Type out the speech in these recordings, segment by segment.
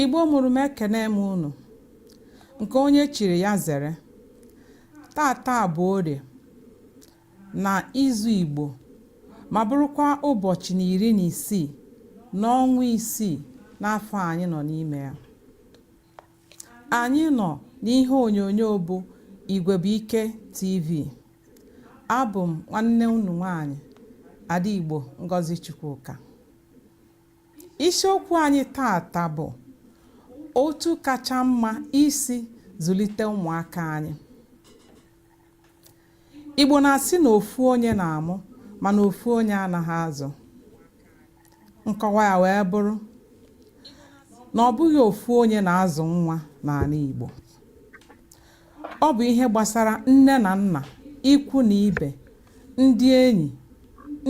Igbo mụrụ m ekene m unu nke onye chiri ya zere taata bụ orie na izu Igbo ma bụrụkwa ụbọchị na iri na isii n'ọnwa isii n'afọ anyị nọ n'ime ya anyị nọ n'ihe onyonyo bụ Igwebuike TV abụ m nwanne unu nwanyị Ada Igbo Ngozi Chukwuka Isiokwu anyị taata bụ otu kacha mma isi zụlite ụmụaka anyị. Igbo na-asị na ofu onye na-amụ mana ofu onye anaghị azụ. Nkọwa ya wee bụrụ na ọ bụghị ofu onye na-azụ nwa n'ala Igbo. Ọ bụ ihe gbasara nne na nna, ikwu na ibe, ndị enyi,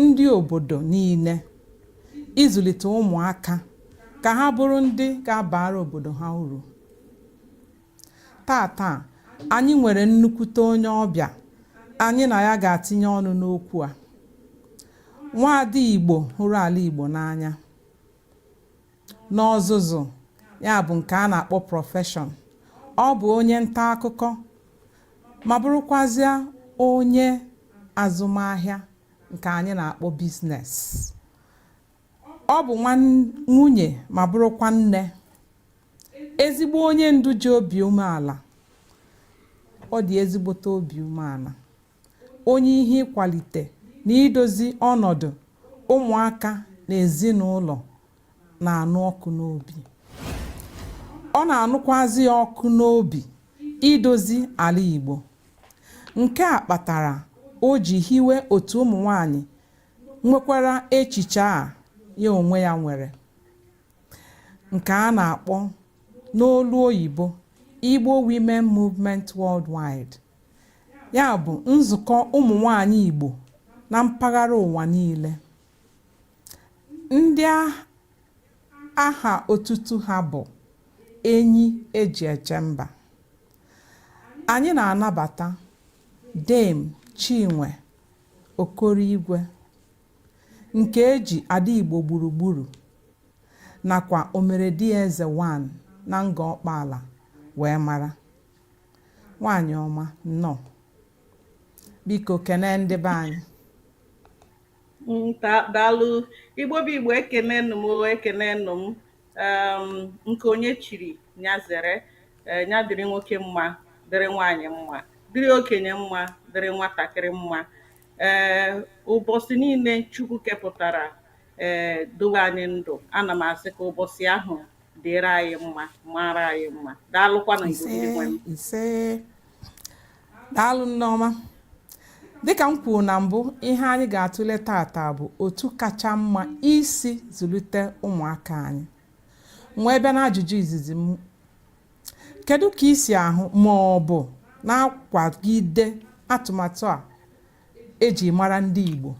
ndị obodo niile ịzụlite ụmụaka ka ha bụrụ ndị ga-abara obodo ha uru. Taata, anyị nwere nnukwute onye ọbịa anyị na ya ga-atinye ọnụ n'okwu a. Nwaada Igbo hụrụ ala Igbo n'anya. N'ọzụzụ, ya bụ nke a na-akpọ profession, ọ bụ onye nta akụkọ ma bụrụkwazịa onye azụmahịa nke anyị na-akpọ business. Ọ bụ nwunye ma bụrụkwa nne, ezigbo onye ndu ji obi umeala, ọ dị ezigbote obi umeala. onye ihe ịkwalite na idozi ọnọdụ ụmụaka na ezinụlọ na-anụ ọkụ n'obi ọ na-anụkwazị ya ọkụ n'obi idozi ala Igbo nke a kpatara o ji hiwe otu ụmụ nwanyị nwekwara echiche a ya onwe ya nwere nke a na-akpọ n'olu oyibo Igbo Women Movement Worldwide ya bụ nzukọ ụmụ nwanyị Igbo na mpaghara ụwa niile ndị aha otutu ha bụ enyi eji eche mba anyị na-anabata Dame Chinwe Okoroigwe nke eji Ada Igbo gburugburu nakwa Omeredieze 1 na Ngor Okpala wee mara Nwaanyị ọma, nnọọ. Biko kenee ndị be anyị. Daalụ. Igbo bụ Igbo ekenenụ m ekenenụ m nke onye chiri nya zere eh, nya dịrị nwoke mma dịrị nwaanyị mma dịrị okenye mma dịrị nwatakịrị mma ee eh, ụbọsị niile Chukwu kepụtara ee eh, dowe anyị ndụ ana m asị ka ụbọsị ahụ dịrị anyị mma mara anyị mma daalụkwanụ igbo ndị nwe m ise daalụ nneọma dịka m kwuru na mbụ ihe anyị ga-atụle tata bụ otu kacha mma isi zụlite ụmụaka anyị wee bịa n'ajụjụ izizi m kedu ka i si ahụ ma ọ bụ na-akwagide atụmatụ a eji mara ndị Igbo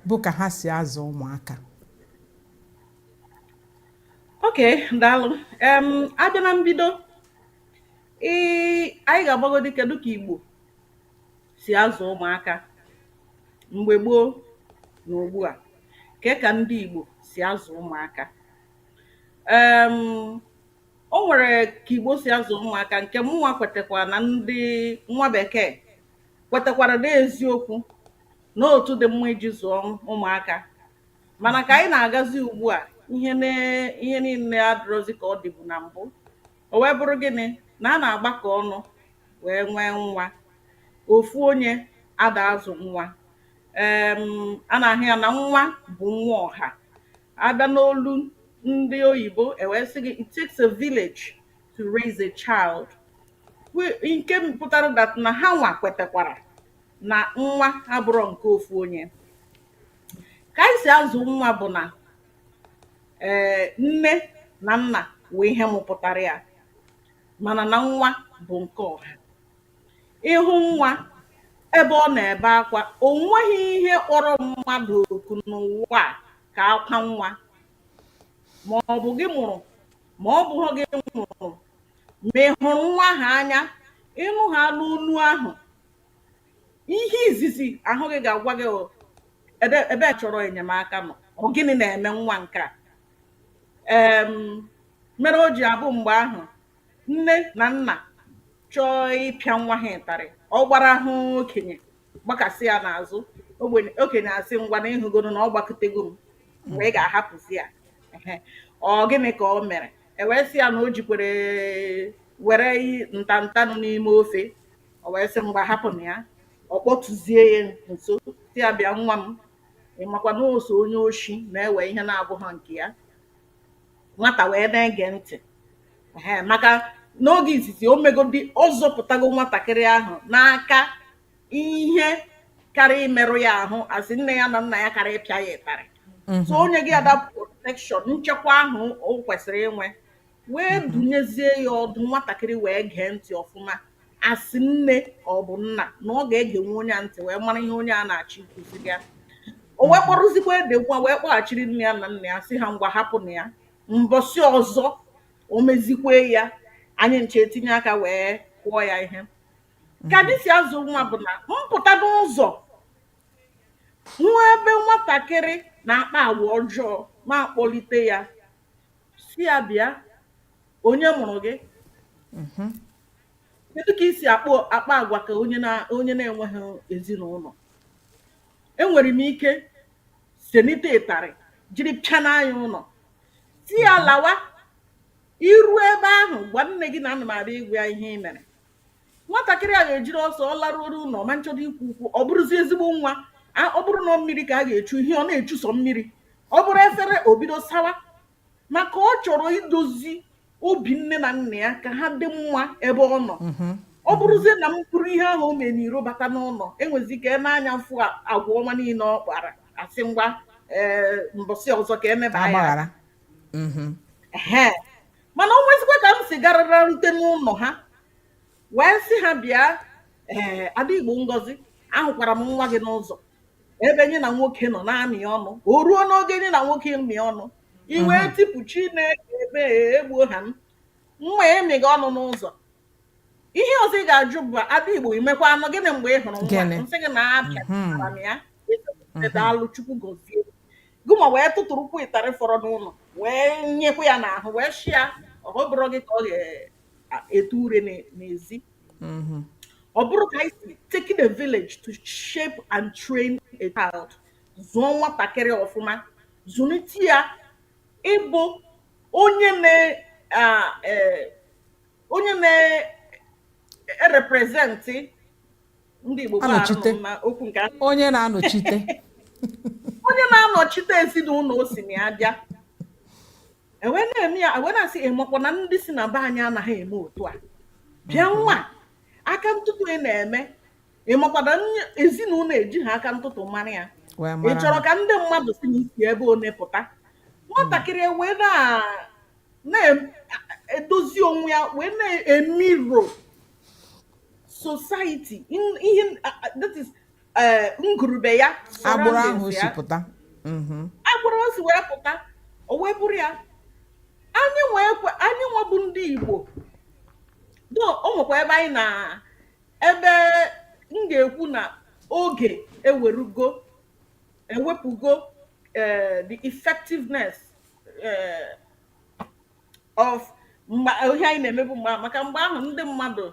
bụ ka ha si azụ ụmụaka ok daalụ em abịa na mbido ị anyị ga-abagodi kedu ka igbo si azụ ụmụaka mgbe gboo na ugbu a ke ka ndị igbo si azụ ụmụaka em o nwere ka igbo si azụ ụmụaka nke mụnwa kwetakwa na ndị nwa bekee kwetakwara n'eziokwu na otu dị mma iji zụọ ụmụaka mana ka anyị na-agazi ugbu a ihe ne- ihe niile adịrọzi ka ọ dịbu na mbụ o wee bụrụ gịnị na a na-agbakọ ọnụ wee nwee nwa ofu onye ada azụ nwa em a na-ahụ ya na nwa bụ nwa ọha abịa n'olu ndị oyibo ewee sị gị it takes a village to raise a child Wh- nke pụtara that na ha nwa kwetakwara na nwa abụrọ nke ofu onye ka anyị si azụ nwa bụ na ee nne na nna wee ihe mụpụtara ya mana na nwa bụ nke ọha ị hụ nwa ebe ọ na-ebe akwa o nweghị ihe kpọrọ mmadụ oku n'ụwa a ka akwa nwa ma ọ bụ gị mụrụ ma ọ bụhọ gị mụrụ ma ị hụrụ nwa ahụ anya ị nụhaana onu ahụ Ihe izizi ahụ gị ga-agwa gị o ebe ebe a chọrọ enyemaka m. Ọ gịnị na-eme nwa nke a? Em, mere o ji abụ mgbe ahụ nne na nna chọọ ịpịa nwa ha ịtarị ọ gbara hụ okenye gbakasị ya n'azụ okenye asị ngwanụ ị hụgonụ na ọ gbakutego m mgbe ị ga-ahapụzi ya Ehe. ọ gịnị ka o mere ewee sị ya na o jikwere were i- nta nta anụ n'ime ofe O wee sị, Ngwa, hapụnụ ya. Ọ kpọtụzie ya nso, sị ya, Bịa, nwa m. Ị makwa na ọ sọ onye oshi na-ewe ihe na-abụghị nke ya. Nwata wee na-ege ntị. Ee, maka n'oge izizi o megodi ọ zọpụtago nwatakịrị ahụ n'aka ihe karị imerụ ya ahụ a sị nne ya na nna ya karị ịpịa ya ịtarị so o nyego ya that protection nchekwa ahụ o kwesịrị inwe wee dunyezie ya ọdụ nwatakịrị wee gee ntị ọfụma a sị nne ka ọ bụ nna na ọ ga-egenwe onye a ntị wee mara ihe onye a na-achọ ikuziri ya o wee kpọrọzikwa the nwa wee kpọghachiri nne ya na nna ya sị ha ngwa hapụnụ ya mbọsị ọzọ o mezikwe ya anyị ncha etinye aka wee kụọ ya ihe ka dị si azụ nwa bụ na m pụta n'ụzọ nwa ebe nwatakịrị na-akpa agwa ọjọọ na-akpọlite ya sị ya bịa onye mụrụ gị mhm. kedu ka i si akpọ akpa agwa ka onye na onye na-enweghị ezinụlọ enwere m ike senite ịtarị jiri pịa n'anya ụlọ sị ya mhm. lawa i ru ebe ahụ gwa nne gị na ana m abịa ịgwa ya ihe ị mere nwatakịrị a ga-ejiri ọsọ ọ laruoro ụlọ ma m chọdo ikwu okwu ọ bụrụzi ezigbo nwa a- ọ bụrụ na mmiri ka a ga-echu ihe ọ na-echusọ mmiri ọ bụrụ efere o bido sawa maka ọ chọrọ idozi obi nne na nna ya ka ha dị mma ebe ọ nọ ọ bụrụzie na m buru ihe ahụ o mee n'iro bata n'ụlọ e nwezi ka e nee anya fụ a- agwa ọma niile ọ kpara a sị ngwa ee mbọsị ọzọ ka e meba ya agbaghara Mhm. Ehe. mana o nwezikwa ka m si garara rute n'ụlọ ha wee sị ha bịa ee ada igbo ngozi ahụkwara m nwa gị n'ụzọ ebe nya na nwoke nọ na-amị ọnụ o ruo n'oge nya na nwoke mị ọnụ i wee tipụ chineke m ee egbuo ha m nwa m amịgo ọnụ n'ụzọ ihe ọzọ ị ga-ajụ bụ ada igbo i mekwanụ gịnị mgbe ị hụrụ nwa m sị gị na apịa mhm. m ya mhm. daalụ chukwu gozie gị ma wee tụtụrụkwu ịtarị fọrọ n'ụlọ wee nyekwa ya n'ahụ wee shi ya ọ bụrụ gị ka ọ ga-etu ure n'ezi mhm. ọ bụrụ ka anyị si taking a village to shape and train a child zụọ nwatakịrị ọfụma zụlite ya ịbụ onye na e, onye na-erepresent e ndị Igbo okwu nke onye na-anọchite onye na-anọchite ezinụlọ o si na ya bịa e wee na-eme ya e wee na-asị ị makwa na ndị si na be anyị anaghị eme otu a bịa mm-hmm. nwa aka ntụtụ ị na-eme ị makwa na ezinụlọ ejighị aka ntụtụ mara ya ị chọrọ ka ndị mmadụ sị na i si ebe one pụta nwatakịrị e wee na na-edozi onwe ya wee na-emirror society in- ihe a- a- that is eh, ngwuru be ya agbụrụ ahụ surroundings o si wee pụta Mhm. agbụrụ o si wee pụta o wee bụrụ ya anyị nwa ekwe anyị nwa bụ ndị igbo though o nwekwa ebe anyị na ebe m ga-ekwu na oge ewerugo ewepụgo eh, the effectiveness eh, of mgbe ihe anyị na-emebu mgbe ahụ maka mgbe ahụ ndị mmadụ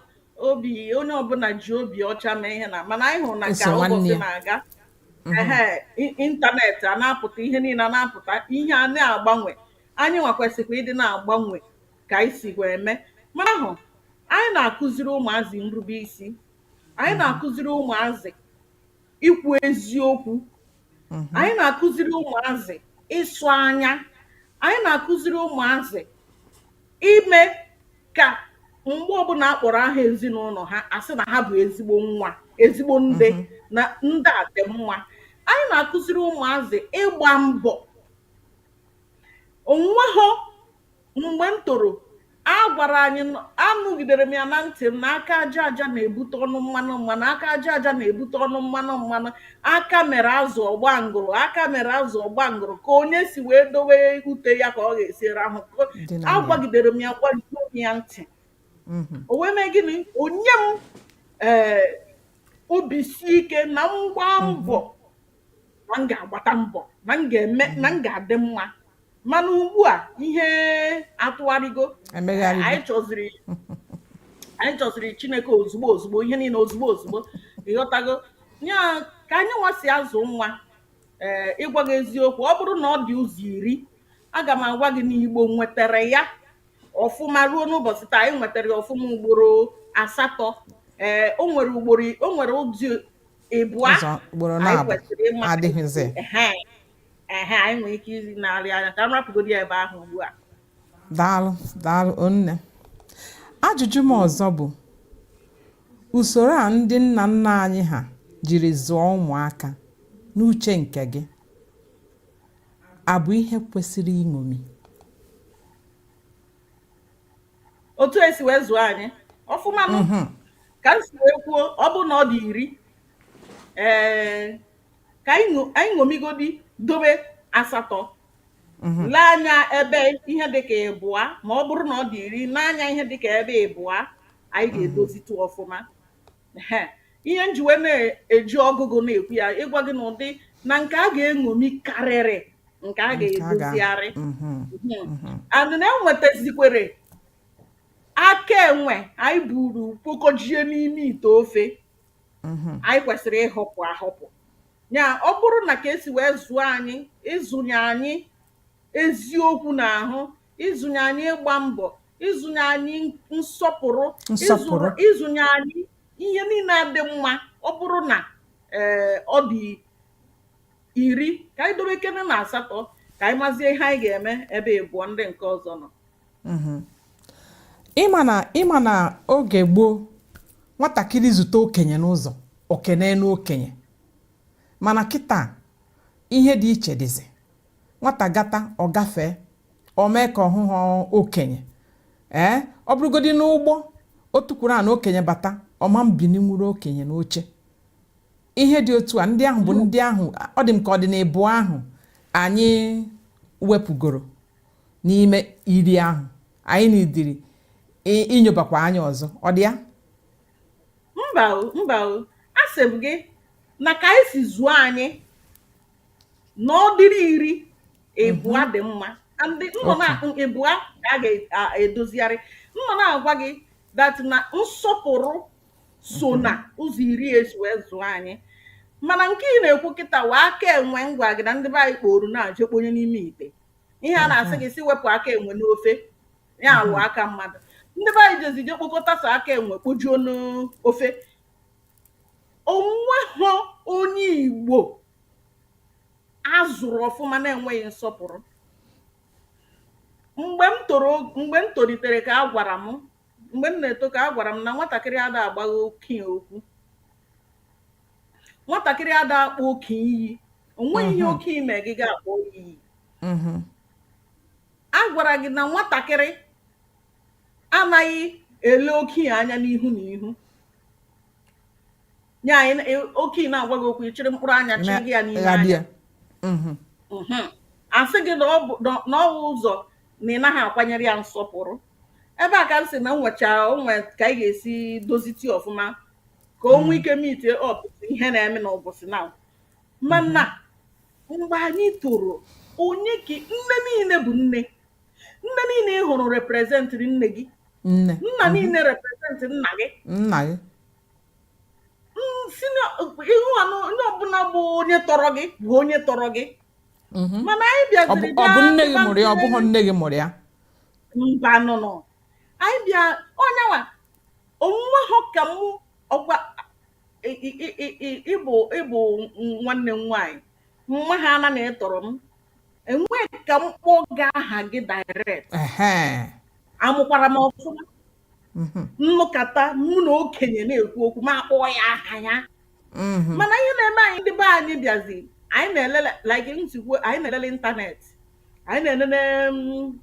obi onye ọbụla ji obi ọcha eme ihe na mana anyị hụrụ na ka ụbọchị na-aga mhm. ịntanetị a na-apụta ihe niile a na-apụta ihe a na-agbanwe anyị nwa kwesịkwa ịdị na-agbanwe ka anyị si wee eme mana ahụ anyị na-akụziri ụmụazị nrube isi anyị mhm. na-akụziri ụmụazị ikwu eziokwu mm-hmm. anyị na-akụziri ụmụazị ịsọ anya anyị na-akụziri ụmụazị ime ka mgbe ọbụla a kpọrọ aha ezinụlọ ha a sị na ha bụ ezigbo nwa ezigbo ndị mm-hmm. na ndị a dị mma anyị na-akụziri ụmụazị ịgba mbọ o nweghị Mgbe m toro, a gwara anyị, anụgidere m ya na ntị m, na aka aja aja na-ebute ọnụ mmanụ mmanụ, aka aja aja na-ebute ọnụ mmanụ mmanụ, aka mere azụ ọ gbaa ngụrụ, aka mere azụ ọ gbaa ngụrụ, ka onye si wee dowe ute ya ka ọ ga-esi rahụ. A gwagidere m ya gwajuo m ya ntị. Mhm. O wee mee gịnị? O nye m ee eh, obi si ike na m gbaa mhm. mbọ na m ga-agbata mbọ na m ga-eme na m ga-adị mma mana ugbu a ihe atụgharịgo anyị chọziri anyị chọziri chineke ozugbo ozugbo ihe niile ozugbo ozugbo ị ghọtago ya ka anyị nwa si azụ nwa ee eh, ịgwa gị eziokwu ọ bụrụ na ọ dị ụzọ iri aga m agwa gị na igbo nwetara ya ọfụma ruo n'ụbọchị taa anyị nwetara ya ọfụma ugboro asatọ ee eh, o nwere ugboro o nwere ụdị ịbụa anyị kwesịrị ịma ehe anyị nwere ike izi narị anya ka m rapụgodi ebe ahụ ugbu a daalụ daalụ o nne ajụjụ m ọzọ bụ usoro a ndị nna nna anyị ha jiri zụọ ụmụaka n'uche nke gị a bụ ihe kwesịrị iṅomi otu e si wee zụọ anyị ọfụma mhm. ka m si wee kwuo ọ bụ na ọ dị iri ee ka anyị ṅo- anyị ṅomigodi dobe asatọ Mhm. lee anya ebe ihe dịka ịbụa ma ọ bụrụ na ọ dị iri nee anya ihe dịka ebe ịbụa anyị ga-edozitụ ọfụma Ehe. ihe m ji wee na-eji ọgụgụ na-ekwu ya ịgwa gị na ụdị na nke a ga-eṅomi karịrị nke a Nke a ga- ga-edozigharị Mhm. Mhm. and na enwetazikwere aka enwe anyị buru kpokọjie n'ime ite ofe mhm. anyị kwesịrị ịhọpụ ahọpụ ya ọ bụrụ na ka e si wee zụọ anyị ịzụnye anyị eziokwu n'ahụ ịzụnye anyị ịgba mbọ ịzụnye anyị nsọpụrụ ịzụnye anyị ihe niile na-adị mma ọ bụrụ na eh, ọ dị iri ka anyị dowekene na asatọ ka anyị mazie ihe anyị ga-eme ebe ịbụọ ndị nke ọzọ nọ mhm. ịma na ịma na oge gboo nwatakịrị zute okenye n'ụzọ o kenee nụ okenye mana kịta ihe dị iche dịzi nwata gata ọ gafee o mee ka ọ hụghị okenye ee ọ bụrụgodi n'ụgbọ o tukwuru ana okenye bata ọ ma-ebininwuru okenye n'oche ihe dị otu a ndị ahụ bụ ndị ahụ ọ dị m ka ọ dị n'ịbụọ ahụ anyị wepụgoro n'ime iri ahụ anyị needịrị inyobakwa anya ọzọ ọ dị ya mba o mba o asị m gị na ka e si zụọ anyị na ọ dịrị iri ịbụa mhm. dị mma ndị nnọ na ịbụa ka a ga-edozigharị m nọ na-agwa gị that na nsọpụrụ so mhm. na ụzọ iri e si wee zụọ anyị mana nke ị na-ekwu kịta wụ aka enwe m gwa gị na ndị be anyị kporo na-eje kponye n'ime ite ihe a na-asị mhm. gị si wepụ aka enwe n'ofe ya alụ mhm. aka mmadụ ndị be anyị jezi je kpokọta sọ aka enwe kpojuo n'ofe o nweghị onye igbo a zụrụ ọfụma na-enweghị nsọpụrụ mgbe m toro mgbe m tolitere ka a gwara m Mgbe m na-eto ka a gwara m na nwatakịrị ada agbagha okenye okwu. Nwatakịrị ada akpọ okenye iyi. O nweghị ihe okenye mere gị ị ga-akpọ ya iyi. A gwara gị na nwatakịrị anaghị ele okenye anya n'ihu n'ihu. Ya anyị ị- okenye na-agwa gị okwu ị chịrị mkpụrụ anya chịrị gị ya n'ime anya. Ghabịa. Mhm. Mhm. A sị gị na ọ bụ na ọ wụ ụzọ na ị naghị akwanyere ya nsọpụrụ. ebe a ka m sị na nwecha o nwe ka anyị ga-esi doziti ọfụma ka o nwee ike meet up ihe na-eme n'ụbọchị na mana mgbe anyị toro onye ka nne niile bụ nne nne niile ị hụrụ representịrị nne gị nne nna mhm. niile represent nna gị nna gị si ihu anụ onye ọbụla bụ onye tọrọ gị bụ onye tọrọ gị mhm. mana anyị bịaziri ọ bụ nne gị mụrụ ya ọ bụghị nne gị mụrụ ya mbanụnụ anyị bịa onye nwa o nwehọ ka mụ ọkwa ị- ị- ị- ị- ị- ị bụ ị bụ nwanne m nwaanyị m mahana na ị tọrọ m enweghị ka m kpọọ gị aha gị direct Ehe. amụkwara m ọfụma mhm. m nọkata mụ na okenye na-ekwu okwu m akpọọ ya aha ya mhm. mana ihe na-eme anyị ndị be anyị bịazi anyị na-elele like nzukọ anyị na-elele ịntanetị anyị na-elele mm,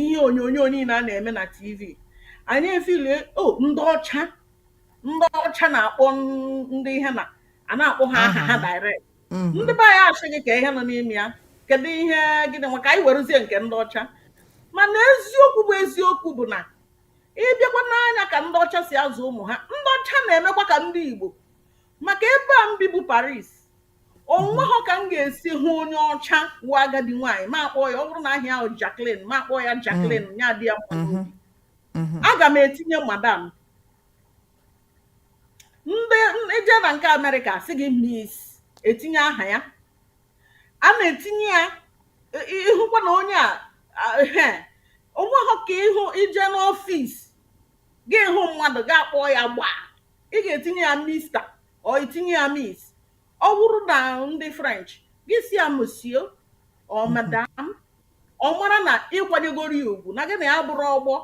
ihe onyonyo niile a na-eme na tv anyị efilie o oh, ndị ọcha ndị ọcha na-akpọ ndị ihe na a na-akpọ ha aha ha direct mm-hmm. ndị be anyị asị gị kee ihe nọ n'ime ya kedu ihe gịnị ngwa ka anyị werezie nke ndị ọcha mana eziokwu bụ eziokwu bụ na ị bịakwa nee anya ka ndị ọcha si azụ ụmụ ha ndị ọcha na-emekwa ka ndị igbo maka ebe a m bi bụ paris o nwehọ ka m ga-esi hụ onye ọcha wụ agadi nwaanyị m akpọọ ya ọ bụrụ na aha ya wụ jacqueline m akpọọ ya jacqueline mm. ya adị ya mma mm-hmm. Mm-hmm. aga m etinye madam ma i jee na nke amerịka sị gị miss etinye aha ya a na-etinye ya ị- ị- ị hụkwa na onye a a- ehe, o nweghị ka ị hụ i jee n'ọfịs gị ahụ mmadụ gị akpọọ ya gbaa ị ga-etinye ya mister or i tinye ya miss Ọ bụrụ na ndị French gị asị ya monsieur or mhm. madam ọ mara na ị kwanyegoro ya ugwu na gị na ya bụrụ ọgbọ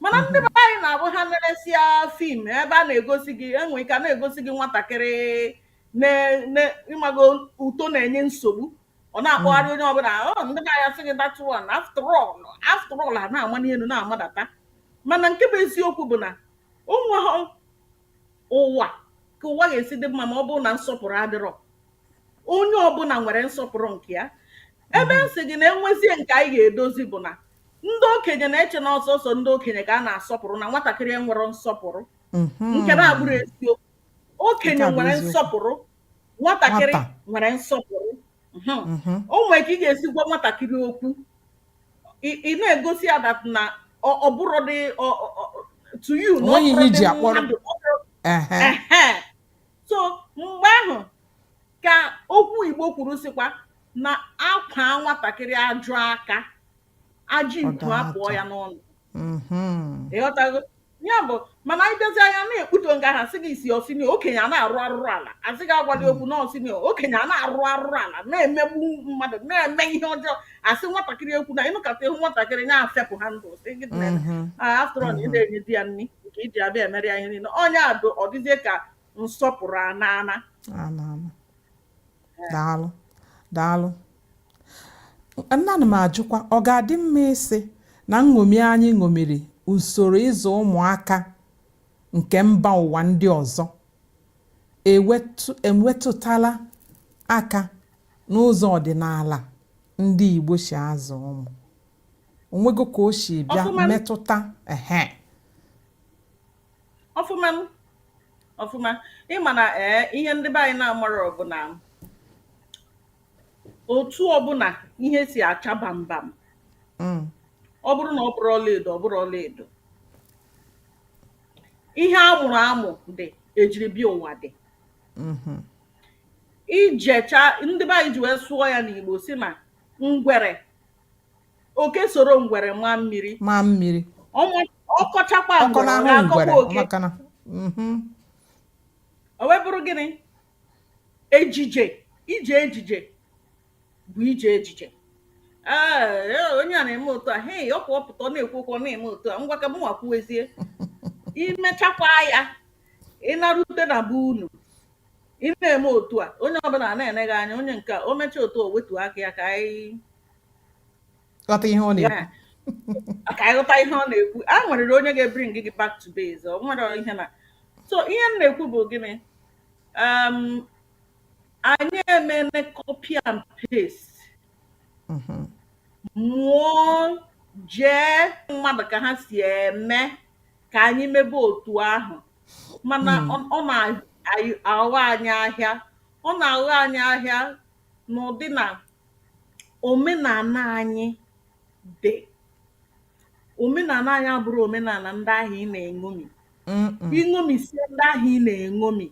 mana ndị mhm. be anyị na-abụ ha neresịa film ebe a na-egosi gị enwe ike a na-egosi gị nwatakịrị ị mago otu ọ na-enye nsogbu ọ na-akpọgharị mhm. onye ọbụla oh, ndị be anyị asị gị that one after all after all a na-amali elu na-amadata mana nke bụ eziokwu bụ na o nweghị ụwa ka ụwa ga-esi dị mma ma ọ bụrụ na nsọpụrụ adịrọ onye ọbụla nwere nsọpụrụ nke ya ebe m sị gị na enwezie nke anyị ga-edozi bụ na ndị okenye na-eche na ọ sọsọ ndị okenye ka a na-asọpụrụ na nwatakịrị enwerọ nsọpụrụ nke na-abụrọ eziokwu okenye Nke a bụ nwere eziokwu. nsọpụrụ nwatakịrị Nwata. nwere nsọpụrụ Mhm. o nwere ka ị ga-esi gwa nwatakịrị okwu ị na-egosi ya that na ọ bụrọdị to you na ọ bụrọdị mmadụ so mgbe ahụ ka okwu Igbo kwuru sịkwa na a kwaa nwatakịrị ajọ aka ajọ okwu apụọ ya n'ọnụ mm-hmm. ị ghọtago ya bụ mana anyị dozi anya na-ekputo nga ha sị gị isi ọ senior okenye a na-arụ arụrụ ala asị gị agwali okwu na ọ senior okenye a na-arụ arụrụ ala na-emegbu mmadụ na-eme ihe ọjọọ asị nwatakịrị ekwuna ịnụkọta ihu nwatakịrị ya afepụ ha ndụ sị gị mm-hmm. ah, after all ị mm-hmm. na-enye di ya nri nke iji abịa emere ya ihe niile onye a bụ ọ dịzie ka nsọpụrụ a na-ana daalụ daalụ nna m ajụkwa ọ ga-adị mma ịsị na nṅomi anyị ṅomiri usoro ịzụ ụmụaka nke mba ụwa ndị ọzọ ewetutala aka n'ụzọ ọdịnala ndị Igbo si azụ ụmụ o nwego ka o si bịa metụta ehe ọfụma ọfụma ị ma na ee eh, ihe ndị be anyị na-amarọ bụ na otu ọbụla ihe si acha bambam mm. ọ bụrụ na ọ bụrọ ọlaedo ọ bụrọ ọlaedo ihe a mụrụ amụ dị e jiri bịa ụwa dị mm-hmm. ijecha ndị be anyị ji wee sụọ ya n'Igbo sị na ngwere Oke soro ngwere maa mmiri. maa mmiri Ọ ma- ọ kọchakwa ọ kọọ ngwere, ọ n'ahụ ga-akọkwa ngwere oke. maka na mhm. O wee bụrụ gịnị? Ejije. Ije ejije bụ ije ejije. Ee, ee, onye a na-eme otu a, hei, ọ pụọ pụta, ọ na-ekwu okwu, ọ na-eme otu a, ngwa ka mụ nwa kwuwezie. I mechakwa ya, ị narute na be unu, ị na-eme otu a onye ọbụla ana-ene gị anya onye nke a o mechaa otu a wetuo aka ya ka anyị ghọta ihe ọ na-ekwu Yeah. ka anyị ghọta ihe ọ na-ekwu a nwerịrị onye ga-ebring gị back to base o nwerọ ihe na so ihe m na-ekwu bụ gịnị um, anyị emene copy and paste Mhm. mụọ jee mmadụ ka ha si eme ka anyị mebe otu ahụ mana hmm. ọ na-aghọ anyị ahịa ọ na-aghọ anyị ahịa n'ụdị na omenala anyị dị omenala anyị abụrọ omenala ndị ahụ ị na-eṅomi i ṅomisie ndị ahụ ị na-eṅomi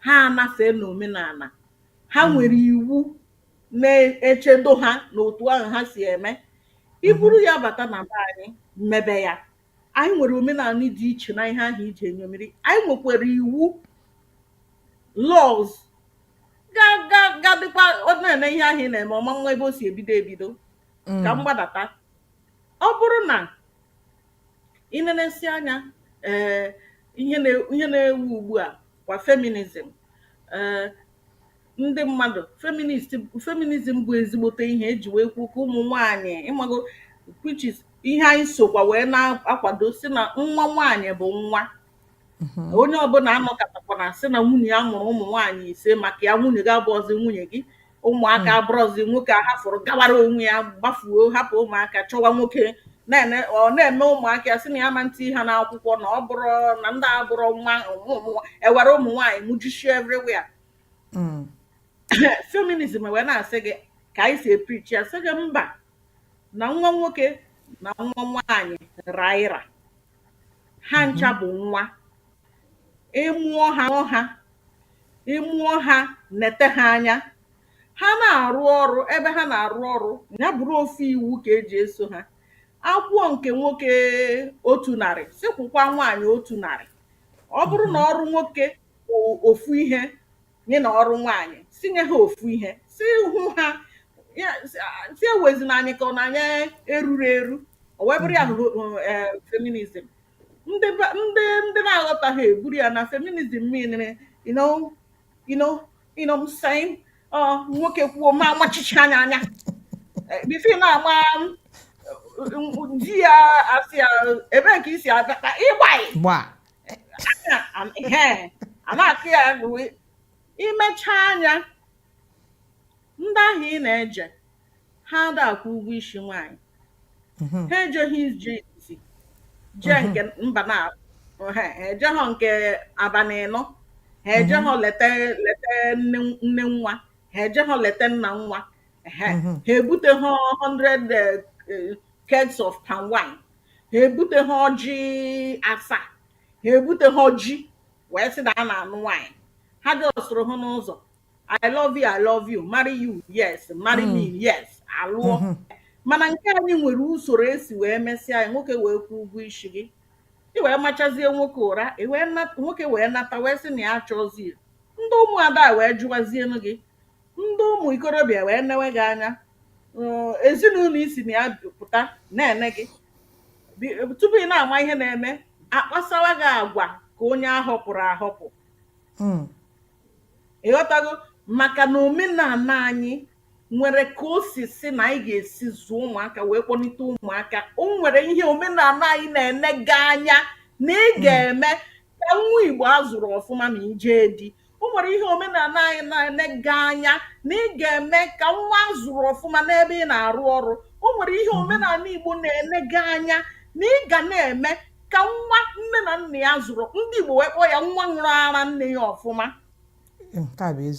ha anafee n'omenala ha hmm. nwere iwu na-echedo ha na otu ahụ ha si eme i buru hmm. ya bata na be anyị mebe ya Anyị nwere omenanị dị iche na ihe ahụ i jee ṅomiri. Anyị nwekwara iwu laws ga-adịkwa na-ene ihe ahụ ị na-eme ọma nwa ebe o si ebido ebido ka mm. m gbadata ọ bụrụ na i nenesi anya ee eh, ihe na-ewu ugbu a kwa feminism ee eh, ndị mmadụ feminist feminism bụ ezigbote ihe eji wee kwuo ka ụmụ nwaanyị ịmago which is ihe anyị sokwa wee na-akwado sị na nwa nwaanyị bụ nwa onye ọbụla anọkatakwana sị na nwunye ya mụrụ ụmụ nwaanyị ise maka ya nwunye gị abụọzi nwunye gị ụmụaka abụrọzi nwoke ahafụrụ gawara onwe ya gbafuo hapụ ụmụaka chọwa nwoke na-ene ọ na-eme ụmụaka ya sị na ya ama etii ha n'akwụkwọ na ọ bụrụ na ndị a abụrọ nwa ụmụ- ụmụ- ewere ụmụ nwaanyị mụjichie everywhere mm. feminism wee na-asị gị ka anyị si eprichi ya sị gị mba na nwa nwoke na nwa nwaanyị ra ịra ha mm-hmm. ncha bụ nwa ị mụọ ha ọha ị mụọ ha nete ha anya ha na-arụ ọrụ ebe ha na-arụ ọrụ ya bụrụ ofu iwu ka e ji eso ha a kwụọ nke nwoke otu narị sị kwụkwa nwaanyị otu narị ọ bụrụ na mhm. ọrụ nwoke ofu ihe ya na ọrụ nwaanyị sị nye ha ofu ihe sị hụ ha ya sị a- sị ewezina anyị ka ọ na anyị erurọ eru o wee bụrụ ya bụ eh, feminism ndị ba- ndị ndị na-aghọtaghị eburu ya na feminism meanere you know you know you know I'm saying ọ nwoke kwuo ma amachichie ya anya Eh, bifo ị na-ama m, m- di ya asị ya ebee ka i si abịa ịgbaghị gba a na-akụ ya bụ imecha anya ndị ahụ ị na-eje ha ada akwụ ụgwọ isi nwaanyị mhm. ha ejeghị ije isi jee mhm. nke mba na ha ejeghọ nke abalị ịnọ ha mhm. ejeghọ leta leta nne nwa ha ejeghọ leta nna nwa ha ebuteghọ 100 eh, kegs of palm wine ha ebuteghị ọjị asaa ha ebuteghị ji wee sị na a na-anụ nwaanyị ha jọsụrụ hụ n'ụzọ I love you I love you marry you yes marry me mm. yes alụọ mm-hmm. mana nke anyị nwere usoro e si wee mesịa anyị nwoke wee kwụọ ụgwọ isi gị ị wee machazie nwoke ụra nwoke wee nata wee sị na ya achọzi ndị ụmụada wee jụwazienu gị Ndị ụmụ ikorobịa wee newe gị anya, mm, ezinụlọ i si na ya pụta na-ene gị. Bi- Tupu ị na-ama ihe na-eme, akpasawa gị agwa ka onye ahọpụrụ ahọpụ. Mm. Ị ghọtago? Maka na omenala anyị nwere ka o si sị na anyị ga-esi zụọ ụmụaka wee kpọlite ụmụaka. O nwere ihe omenala anyị na-ene gị anya na ị ga-eme ka nwa Igbo a zụrụ ọfụma ma ị jee di. o nwere ihe omenala anyị na-enega anya na ị ga-eme ka nwa a zụrụ ọfụma n'ebe ị na-arụ ọrụ o nwere ihe mhm. omenala Igbo na-enega anya na ị ga na-eme ka nwa nne na nna ya zụrụ ndị Igbo wee kpọọ ya nwa ṅụrụ ara nne ya ọfụma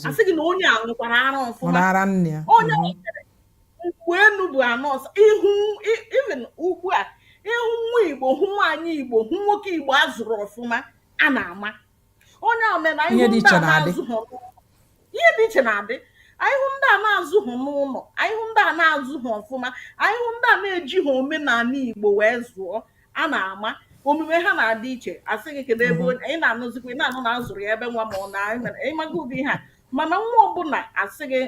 a sị gị na onye a ṅụkwara ara ọfụma onye mhm. mgbe enu bụ ana ọsa even ugbu a ị hụ nwa Igbo hụ nwaanyị Igbo hụ nwoke Igbo a zụrụ ọfụma a na-ama onye a mere ihe dị ihe dị ihe dị iche na-adị anyị hụ ndị a na-azụghị n'ụlọ anyị hụ ndị a na-azụghị ọfụma anyị hụ ndị a na-ejighị omenala igbo wee zụọ a na-ama omume ha na-adị iche a sị gị kedu ebe onye ị na-anụzikwa ị na-anụ na a zụrụ ya ebe nwa ma ọ na anyị mere ịmaga ụdị ihe a mana nwa ọbụla a sị gị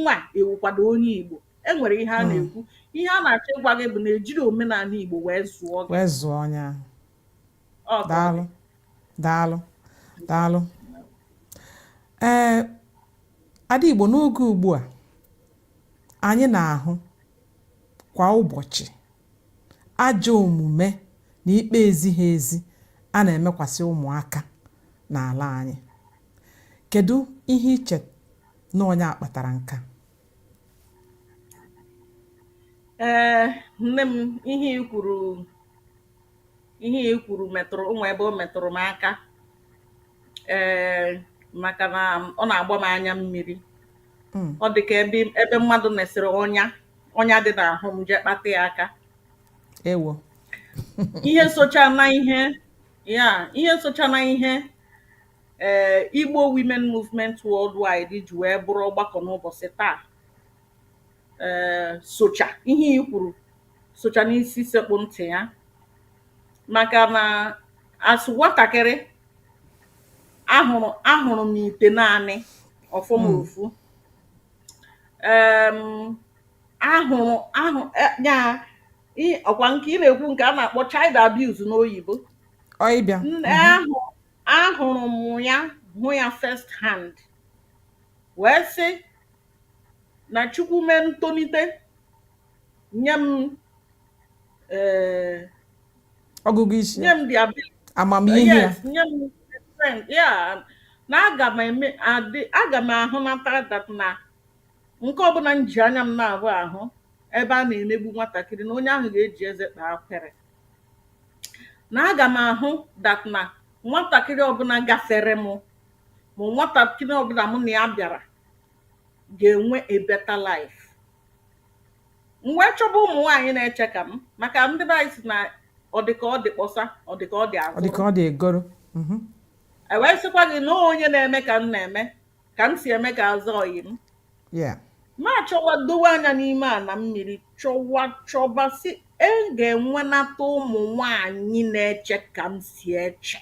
nwa ewukwado onye igbo e nwere ihe a na-ekwu ihe a na-achọ ịgwa gị bụ na e jiri omenala igbo wee zụọ gị wee zụọ onye ahụ daalụ daalụ daalụ ee ada igbo n'oge ugbu a anyị na-ahụ kwa ụbọchị ajọ omume na ikpe ezighị ezi a na-emekwasị ụmụaka n'ala anyị kedu ihe i che na ọ ya kpatara nke a ee nne m ihe i kwuru ihe a i kwuru metụrụ m ebe o metụrụ m aka ee maka na ọ na-agba m anya mmiri hmm. ọ dị ka ebe ebe mmadụ mesịrị ọnya ọnya dị n'ahụ m jee kpata ya aka ewo ihe socha na ihe ya ihe socha na ihe ee eh, Igbo Women Movement Worldwide ji wee bụrụ ọgbakọ n'ụbọchị taa ee socha ihe i kwuru socha n'isi sekpụ ntị ya maka na as nwatakịrị ahụrụ ahụrụ m ite naanị ọfọ m ofu em ahụrụ ahụ e- ya i- ọkwa nke ị na-ekwu nke a na-akpọ child abuse n'oyibo ọ ịbịa N- ahụ ahụrụ m ya hụ ya first hand wee sị na Chukwu mee m tolite nye m eh, ọgụgụ isi nye m the ability amamihe ya yes nye m the strength ya na aga m eme adị aga m ahụnata that na nke ọbụla m ji anya m na-ahụ ahụ ebe a na-emegbu nwatakịrị na onye ahụ ga-eji eze kpaa ekwere na aga m ahụ that na nwatakịrị ọbụla gafere m ma nwatakịrị ọbụla mụ na ya bịara ga-enwe a better life. M wee chọba ụmụ nwaanyị na-eche ka m maka ndị be anyị sị na ọ dị ka ọ dị kpọsa ọ dị ka ọ dị ọ dị ka azụrụ ọ dị egoro Mhm. e wee sịkwa gị na onye na-eme ka m na-eme ka m si eme ka aza ọyị m Yeah. m achọwa dowe anya n'ime ana mmiri chọwa chọba sị e ga-enwenata ụmụ nwaanyị na-eche ka m si eche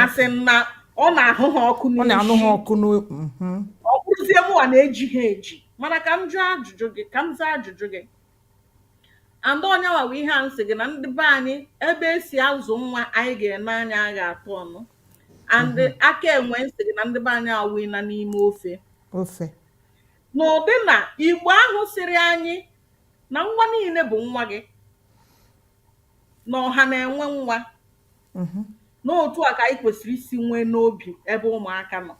asị m na ọ na-ahụ ha ọkụ ọ na-anụ ha n'isi ọkụ n'o mhm. ọ bụrụzie mụwa na-eji ha eji mana ka m jụọ ajụjụ gị ka m zaa ajụjụ gị and ọ nyanwa bụ ihe a m sị gị na ndị be anyị ebe e si azụ nwa anyị ga-ene anya a ga-atụ ọnụ and aka enwe m sị gị na ndị be anyị awụina n'ime ofe ofe n'ụdị na igbo ahụ sịrị anyị na nwa niile bụ nwa gị na ọha na-enwe nwa mhm. n'otu a ka anyị kwesịrị isi nwee n'obi ebe ụmụaka nọ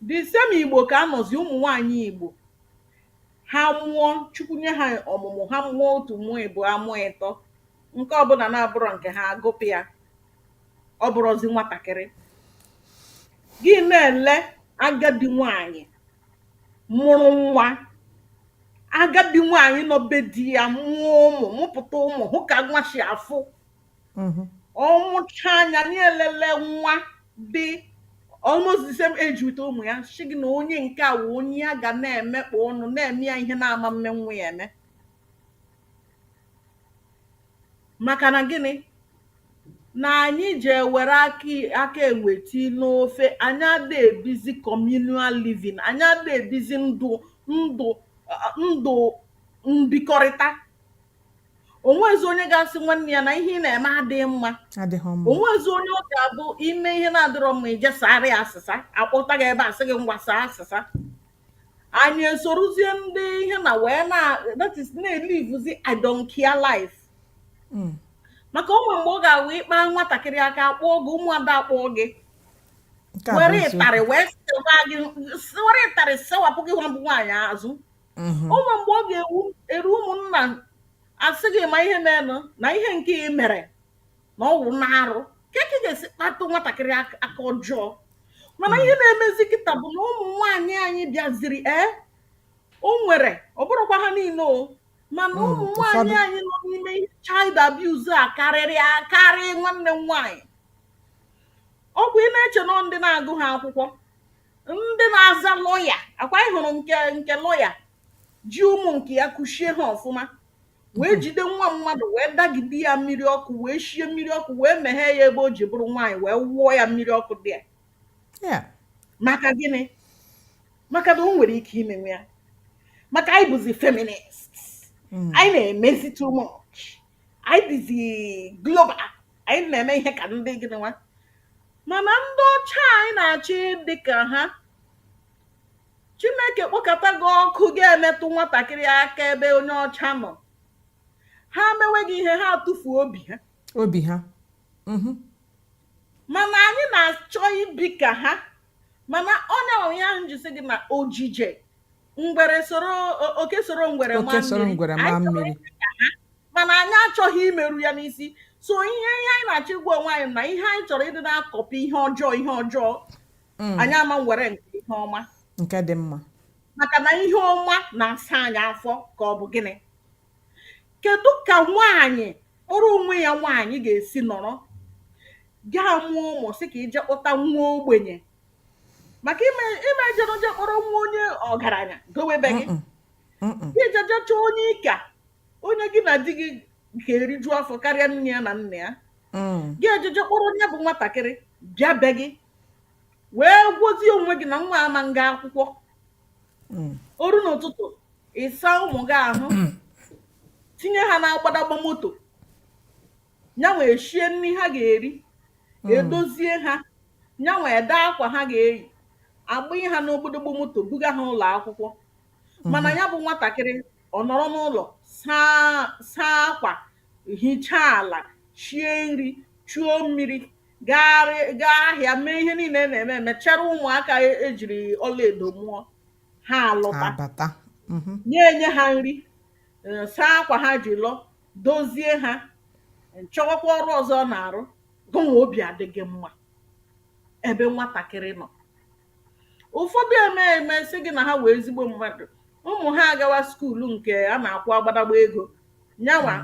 the same igbo ka a nọzi ụmụ nwaanyị igbo ha mụọ chukwu nye ha ọmụmụ ha mụọ otu mụọ ịbụa mụọ ịtọ nke ọbụla na-abụrọ nke ha a gụpụ ya ọ bụrụzi nwatakịrị gị na-ele agadi nwaanyị mụrụ nwa agadi nwaanyị nọ be di ya mụọ ụmụ mụpụta ụmụ hụ ka nwa si afụ mm-hmm. ọ mụchaa nya na-elele nwa dị almost the same age with ụmụ ya sị gị na onye nke a wụ onye ya ga na-emekpọ ọnụ na-eme ya ihe na-ama mme nwa ya eme maka na gịnị na anyị ji ewere aka enwe tii n'ofe anyị ada ebizi communal living anyị ada ebizi ndụ ndụ ndụ mbikọrịta o nwezi onye ga-asị nwanne ya na ihe ị na-eme adịghị mma adịghị mma o nwezi onye ọ ga-abụ i me ihe na-adịrọ mma i je saara ya asịsa a kpọta gị ebe a sị gị ngwa saa asịsa anyị esorozie ndị ihe na wee na that is na-elivuzi I don't care life Mm. maka o nwere mgbe ọ ga-awụ ị kpa nwatakịrị aka a kpọọ gị ụmụada akpọọ gị nke a bụ were eziokwu ịtarị wee sewa gị were ịtarị sewapụ gị nwa bụ nwaanyị azụ mhm. o nwe mgbe ọ ga-eru ụmụnna asị gị ma ihe menụ na ihe nke ị mere na ọ wụ na arụ kee ka ị ga-esi kpatụ nwatakịrị ak- aka ọjọọ mana ihe na-emezi kịta bụ na ụmụ nwaanyị anyị bịaziri ee o nwere ọ bụrọkwa ha niine o mana Mm, ụmụ nwaanyị ụfọdụ. anyị nọ n'ime ihe child abuse a karịrị akarị nwanne m nwaanyị ọ kwa ị na-eche na ọ ndị na-agụha akwụkwọ ndị na-aza lọya ọ kwa anyị hụrụ nke nke lọya ji ụmụ nke ya kuchie ha ọfụma wee jide nwa mmadụ wee dagide ya mmiri ọkụ wee shie mmiri ọkụ wee meghee ya ebe o ji bụrụ nwaanyị wee wụọ ya mmiri ọkụ dị ya Yeah. maka gịnị maka na o nwere ike imenwu ya maka anyị bụzi feminist Mm. anyị na-emezi too much anyị dịzi global anyị na-eme ihe ka ndị gịnị nwa mana ndị ọcha anyị na-achọ ịdị ka ha chineke kpọkata gị ọkụ ga-emetụ nwatakịrị aka ebe onye ọcha nọ ha mewe gị ihe ha atụfuo obi ha obi ha mhm. mana anyị na-achọ ibi ka ha mana onye ọrụ ya njisi gị na ojije ngwere soro o- oke soro ngwere oke maa soro mmiri ngwere maa anyị chọrọ mmiri ime ka ha mana anyị achọghị imeru ya n'isi so ihe ihe anyị na-achọ ịgwa onwe anyị na ihe anyị chọrọ ịdị na-akọpị ihe ọjọọ ihe ọjọọ Mm, anyị aman were nke ihe ọma nke dị mma maka na ihe ọma na-asa anyị afọ ka ọ bụ gịnị kedu ka nwaanyị kpọrọ onwe ya nwaanyị ga-esi nọrọ gaa mụọ ụmụ sị ka i je kpọta nwa ogbenye maka ị ma ị ma eje je kpọrọ nwa onye ọgaranya dowe be gị i je je chọọ onye ị ka onye gị na di gị ga-eriju afọ karịa nne ya na nna ya gị eje je kpọrọ onye bụ nwatakịrị bịa be gị wee gwazie onwe gị na nwa aman ga akwụkwọ o ruo n'ụtụtụ ị saa ụmụ gị ahụ tinye ha n'agbadagba moto nyanwa eshie nri ha ga-eri edozie ha nyanwa edee akwa ha ga-eyi agbanye ha n'ogbodogbo moto buga ha ụlọ akwụkwọ mana ya bụ nwatakịrị ọ nọrọ n'ụlọ saa saa akwa hichaa ala shie nri chuo mmiri gaarị gaa ahịa mee ihe niile a na-eme eme chere ụmụaka e- e jiri ọlaedo mụọ ha alọta abata Mhm. nya enye ha nri eh, saa akwa ha ji lọ dozie ha chọwakwa ọrụ ọzọ ọ na-arụ Gụnwa obi adị gị mma ebe nwatakịrị nọ. Ụfọdụ emee eme sị gị na ha wụ ezigbo mmadụ, ụmụ ha agawa skuulu nke a na-akwụ agbadagba ego, yanwa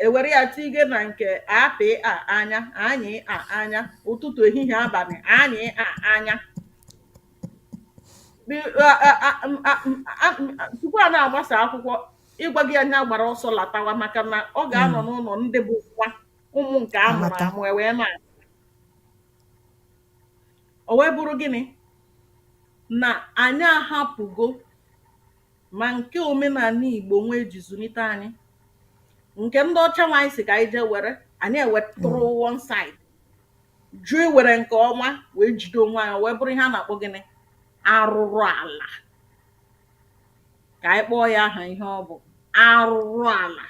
ewere ya tige na nke apị a anya anyị a anya ụtụtụ ehihie abalị anyị a anya tupu a na-agbasa akwụkwọ ị gwago ya nya gbara ọsọ latawa maka na ọ ga-anọ n'ụlọ ndị bụ nwa ụmụ nke a mụrụ amụ e wee na o wee bụrụ gịnị na anyị ahapụgo ma nke omenala Igbo nwa eji zụlite anyị nke ndị ọcha nwa anyị sị ka anyị jee were anyị ewetụrụ mm. one side jụ iwere nke ọma wee jide onwe anyị o wee bụrụ ihe a na-akpọ gịnị arụrụ ala ka anyị kpọọ ya aha ihe ọ bụ arụrụ ala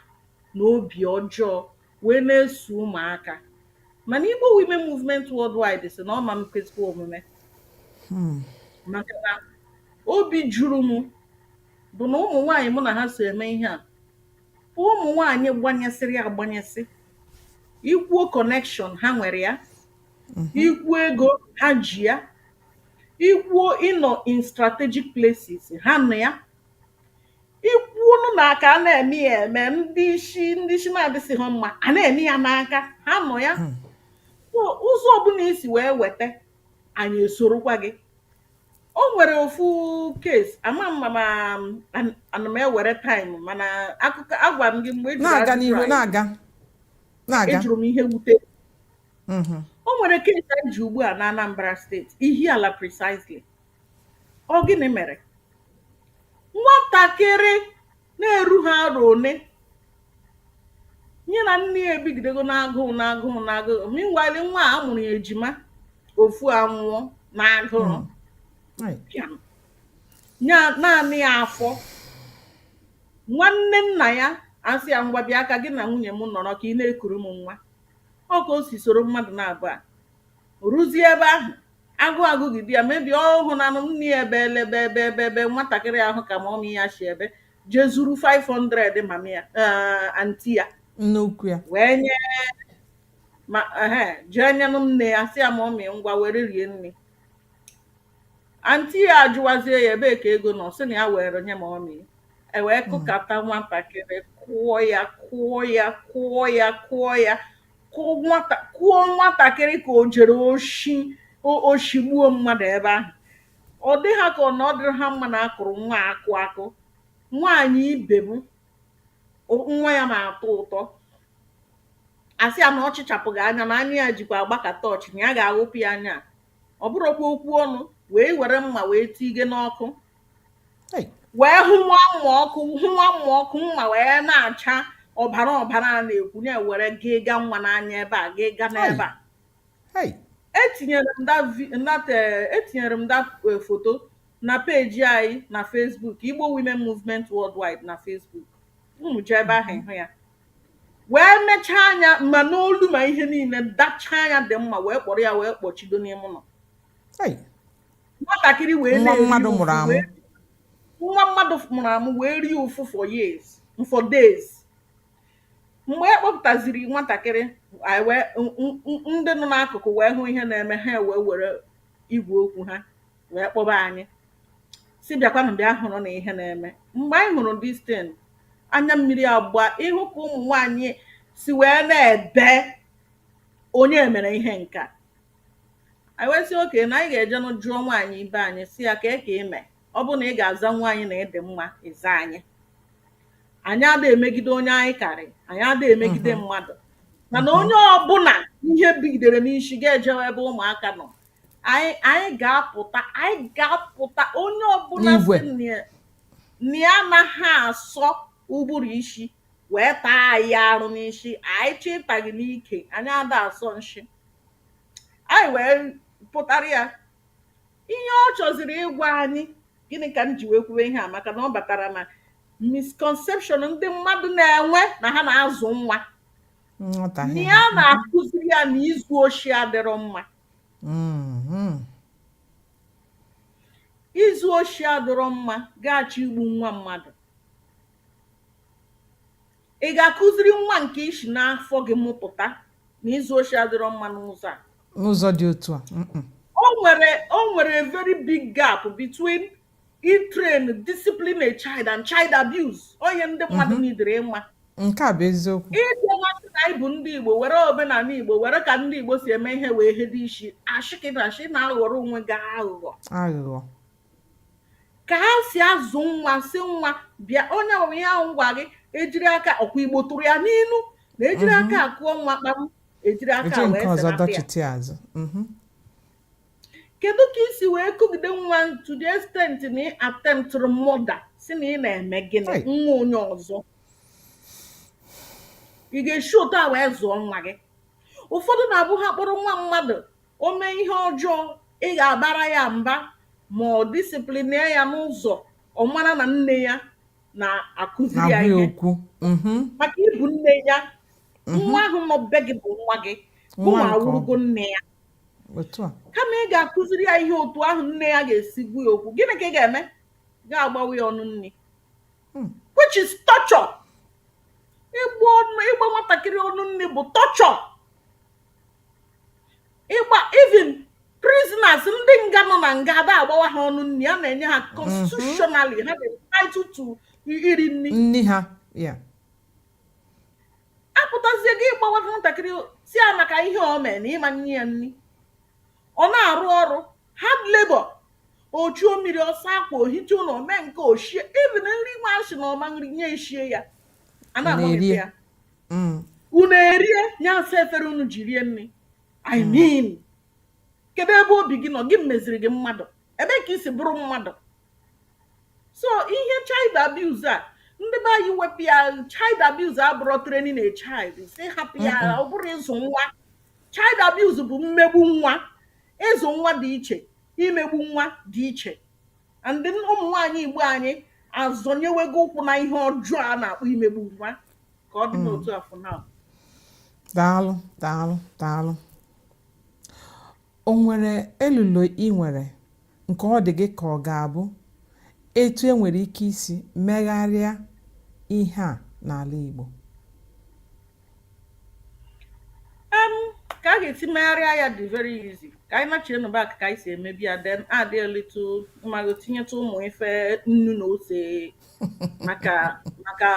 na obi ọjọọ wee na-eso ụmụaka. Mana Igbo Women Movement Worldwide sị na ọ ma mkwezikwa omume hmm. maka na obi juru m bụ na ụmụ nwaanyị mụ na ha so eme ihe a bụ ụmụ nwaanyị gbanyesịrị agbanyesị i kwuo connection ha nwere ya mhm. i kwuo ego ha ji ya i kwuo ịnọ in strategic places ha nọ ya i kwuonụ na aka a na-eme ya eme ndị isi ndị isi na-adịsịghị mma a na-eme ya n'aka ha nọ ya Hmm. So, ụzọ ọbụla i si wee weta anyị esorokwa gị o nwere ofu case ama m mana an- ana m ewere time mana akụkọ agwa m gị mgbe ejiri na-aga ajụjụ n'ihu anyị na-aga na-aga ejụrụ m ihe wute Mhm. o nwere case anyị ji ugbu a na Anambra State Ihiala precisely Ọ gịnị mere? Nwatakịrị na-erughị arọ ole, ya na nne ya ebigidego n'agụrụ n'agụrụ n'agụrụ meanwhile nwa a a mụrụ ya ejima ofu anwụọ n'agụrụ. Right. Pịam. Ya naanị ya afọ. Nwanne nna ya asị ya ngwa bịa ka gị na nwunye m nọrọ ka ị na-ekuru m nwa. Ọ ka o si soro mmadụ nabaa. O ruzie ebe ahụ, agụụ agụgide ya, maybe ọ hụnanụ m nri ebe elebe ebe ebe ebe nwatakịrị ahụ ka mummy ya si ebe jee zuru 500 mummy ya eh, aunty ya Nne ukwu ya. wee nye ma ehe jee nyenụ m nne ya sị ya mummy ngwa were rie nri aunty ya ajụwazie ya ebee ka ego nọ sị na ya were nye mummy e wee kụkata nwatakịrị kụọ ya kụọ ya kụọ ya kụọ ya kụọ nwatakịrị ka o jere oshi oshi gbuo mmadụ ebe ahụ ọ dị ha ka ọ na ọ dịrị ha mma na a kụrụ nwa akụ akụ nwaanyị ibe m nwa ya na-atọ ụtọ asị ya na ọ chịchapụghị anya na anya ya jikwa agba ka torch na ya ga-aghụpụ ya anya ọ bụrụkwa okwu ọnụ wee were mma wee tige n'ọkụ wee hụwa mma ọkụ hụwa mma ọkụ mma wee na-acha ọbara ọbara a na-ekwu na-ewere gị ga nwa n'anya ebe a gị ga n'ebe a etinyere m eh, etinyere m that eh, foto na peji anyị na Facebook Igbo Women Movement Worldwide na Facebook unu jee ebe ahụ ịhụ ya wee mechaa anya ma n'olu ma ihe niile dachaa anya dị mma wee kpọrọ ya wee kpọchido n'ime ụlọ nwatakịrị wee nwa mmadụ mụrụ amụ nwa mmadụ mụrụ amụ wee rie ụfụ for years for days mgbe e kpọpụtaziri nwatakịrị ndị nọ n'akụkụ wee hụ ihe na-eme ha wee were igwe okwu ha wee kpọba anyị sị bịakwanụ bịa hụrụ na ihe na-eme mgbe anyị hụrụ distin anya mmiri agba ị hụ ka ụmụ nwanyị si wee na-ebe onye mere ihe nkaa anyị wee sị oke na anyị ga-ejenụ jụọ nwaanyị ibe anyị sị ya kee ka i me ọ bụ na ị ga-aza nwaanyị na ị dị mma ịza anyị anyị ada emegide onye anyị karị anyị ada emegide mhm. mmadụ mana mhm. onye ọbụla ihe bigidere n'isi ga-ejewe ebe ụmụaka nọ anyị ga-apụta anyị ga-apụta onye ọbụla na ya anaghị asọ ụbụrụ isi wee taa anyị arụ n'isi anyị chị taa gị n'ike anyị ada asọ nshi Anyị wee pụtara ya ihe ọ chọziri ịgwa anyị gịnị ka m ji wee kwuwe ihe a maka na ọ batara na misconception ndị mmadụ na-enwe na ha na-azụ nwa na ya na-akụziri ya na izu oshi adịrọ mma mm-hmm. izu oshi adịrọ mma ga-achọ igbu nwa mmadụ Ị ga-akụziri nwa nke i si n'afọ gị mụpụta na izu oshi adịrọ mma n'ụzọ a? N'ụzọ dị otu a? O nwere o nwere a very big gap between ịtrain discipline a child and child abuse. Onye ndị mmadụ mhm. needịrị ịma. Nke a bụ eziokwu. Ị bịa masị na anyị bụ ndị Igbo were omenala Igbo were ka ndị Igbo si eme ihe wee hedo isi ashịkata ashị na-aghọrọ onwe gị aghụghọ. Aghụghọ. ka ha si azụ nwa sị nwa bịa onye ọbụla ihe ahụ ngwa gị ejiri aka ọkwa igbo tụrụ ya n'ilu na ejiri mhm. aka a kụọ nwa kpam ejiri aka wee dọchite azụ mhm. kedu ka i si wee kụgide nwa to the extent na ị attemptụrụ murder sị na ị na-eme gịnị nwa onye ọzọ ị ga-esi otu a wee zụọ nwa gị ụfọdụ na-abụ ha kpọrọ nwa mmadụ O mee ihe ọjọọ, ị ga-abara ya mba ma ọ disiplinịa ya n'ụzọ ọ mara na nne ya na-akụziri ya Na-agwa ya ihe. okwu. Mhm. Maka ị bụ nne ya, nwa ahụ nọ be gị bụ nwa gị, Nwa gụnwa nke ọ awụrụgo bụ. nne ya. Otu a. Kama ị ga-akụziri ya ihe otu ahụ nne ya ga-esi gwa ya okwu, gịnị ka ị ga-eme? Ga-agbawa ya ọnụ nri. Hmm. Which is torture. Ịgba ọnụ- ịgba nwatakịrị ọnụ nri bụ torture. ịgba even prisoners ndị nga nọ na nga a da-agbawa ha ọnụ nri a na-enye ha constitutionally ha dị entitled to iri nri nri ha ya apụtazie gị ịgbawa nwatakịrị sị ya maka ihe o mee na ị ma-enye ya nri ọ na-arụ ọrụ hard labor o chuo mmiri ọ sụọ akwa o hichaa ụlọ o mee nke o shie even nri nwa a sị na ọ ma-eri nya eshie ya a na-agbanwe A na-eri ya. ya mm. unu erie nya asaa efere unu ji rie nri I mm. mean kedu ebe obi gị nọ gịnị meziri gị mmadụ ebee ka i si bụrụ mmadụ so ihe child abuse a ndị be anyị wepụ ya child abuse abụrọ training a child sị hapụ ya ọ bụrọ ịzụ nwa child abuse bụ mmegbu nwa ịzụ nwa dị iche imegbu nwa dị iche and then ụmụ nwaanyị Igbo anyị azọnyewego ụkwụ na ihe ọjọọ a na-akpọ imegbu nwa ka ọ dị Mm. n'otu a for now daalụ daalụ daalụ o nwere elulo i nwere nke ọ dị gị ka ọ ga-abụ etu e nwere ike isi megharịa ihe a n'ala Igbo um ka a ga-esi megharịa ya dị very easy ka anyị nachie nụ back ka anyị si emebu ya then add a little Maggi tinyetụ ụmụ ife nnu na ose maka maka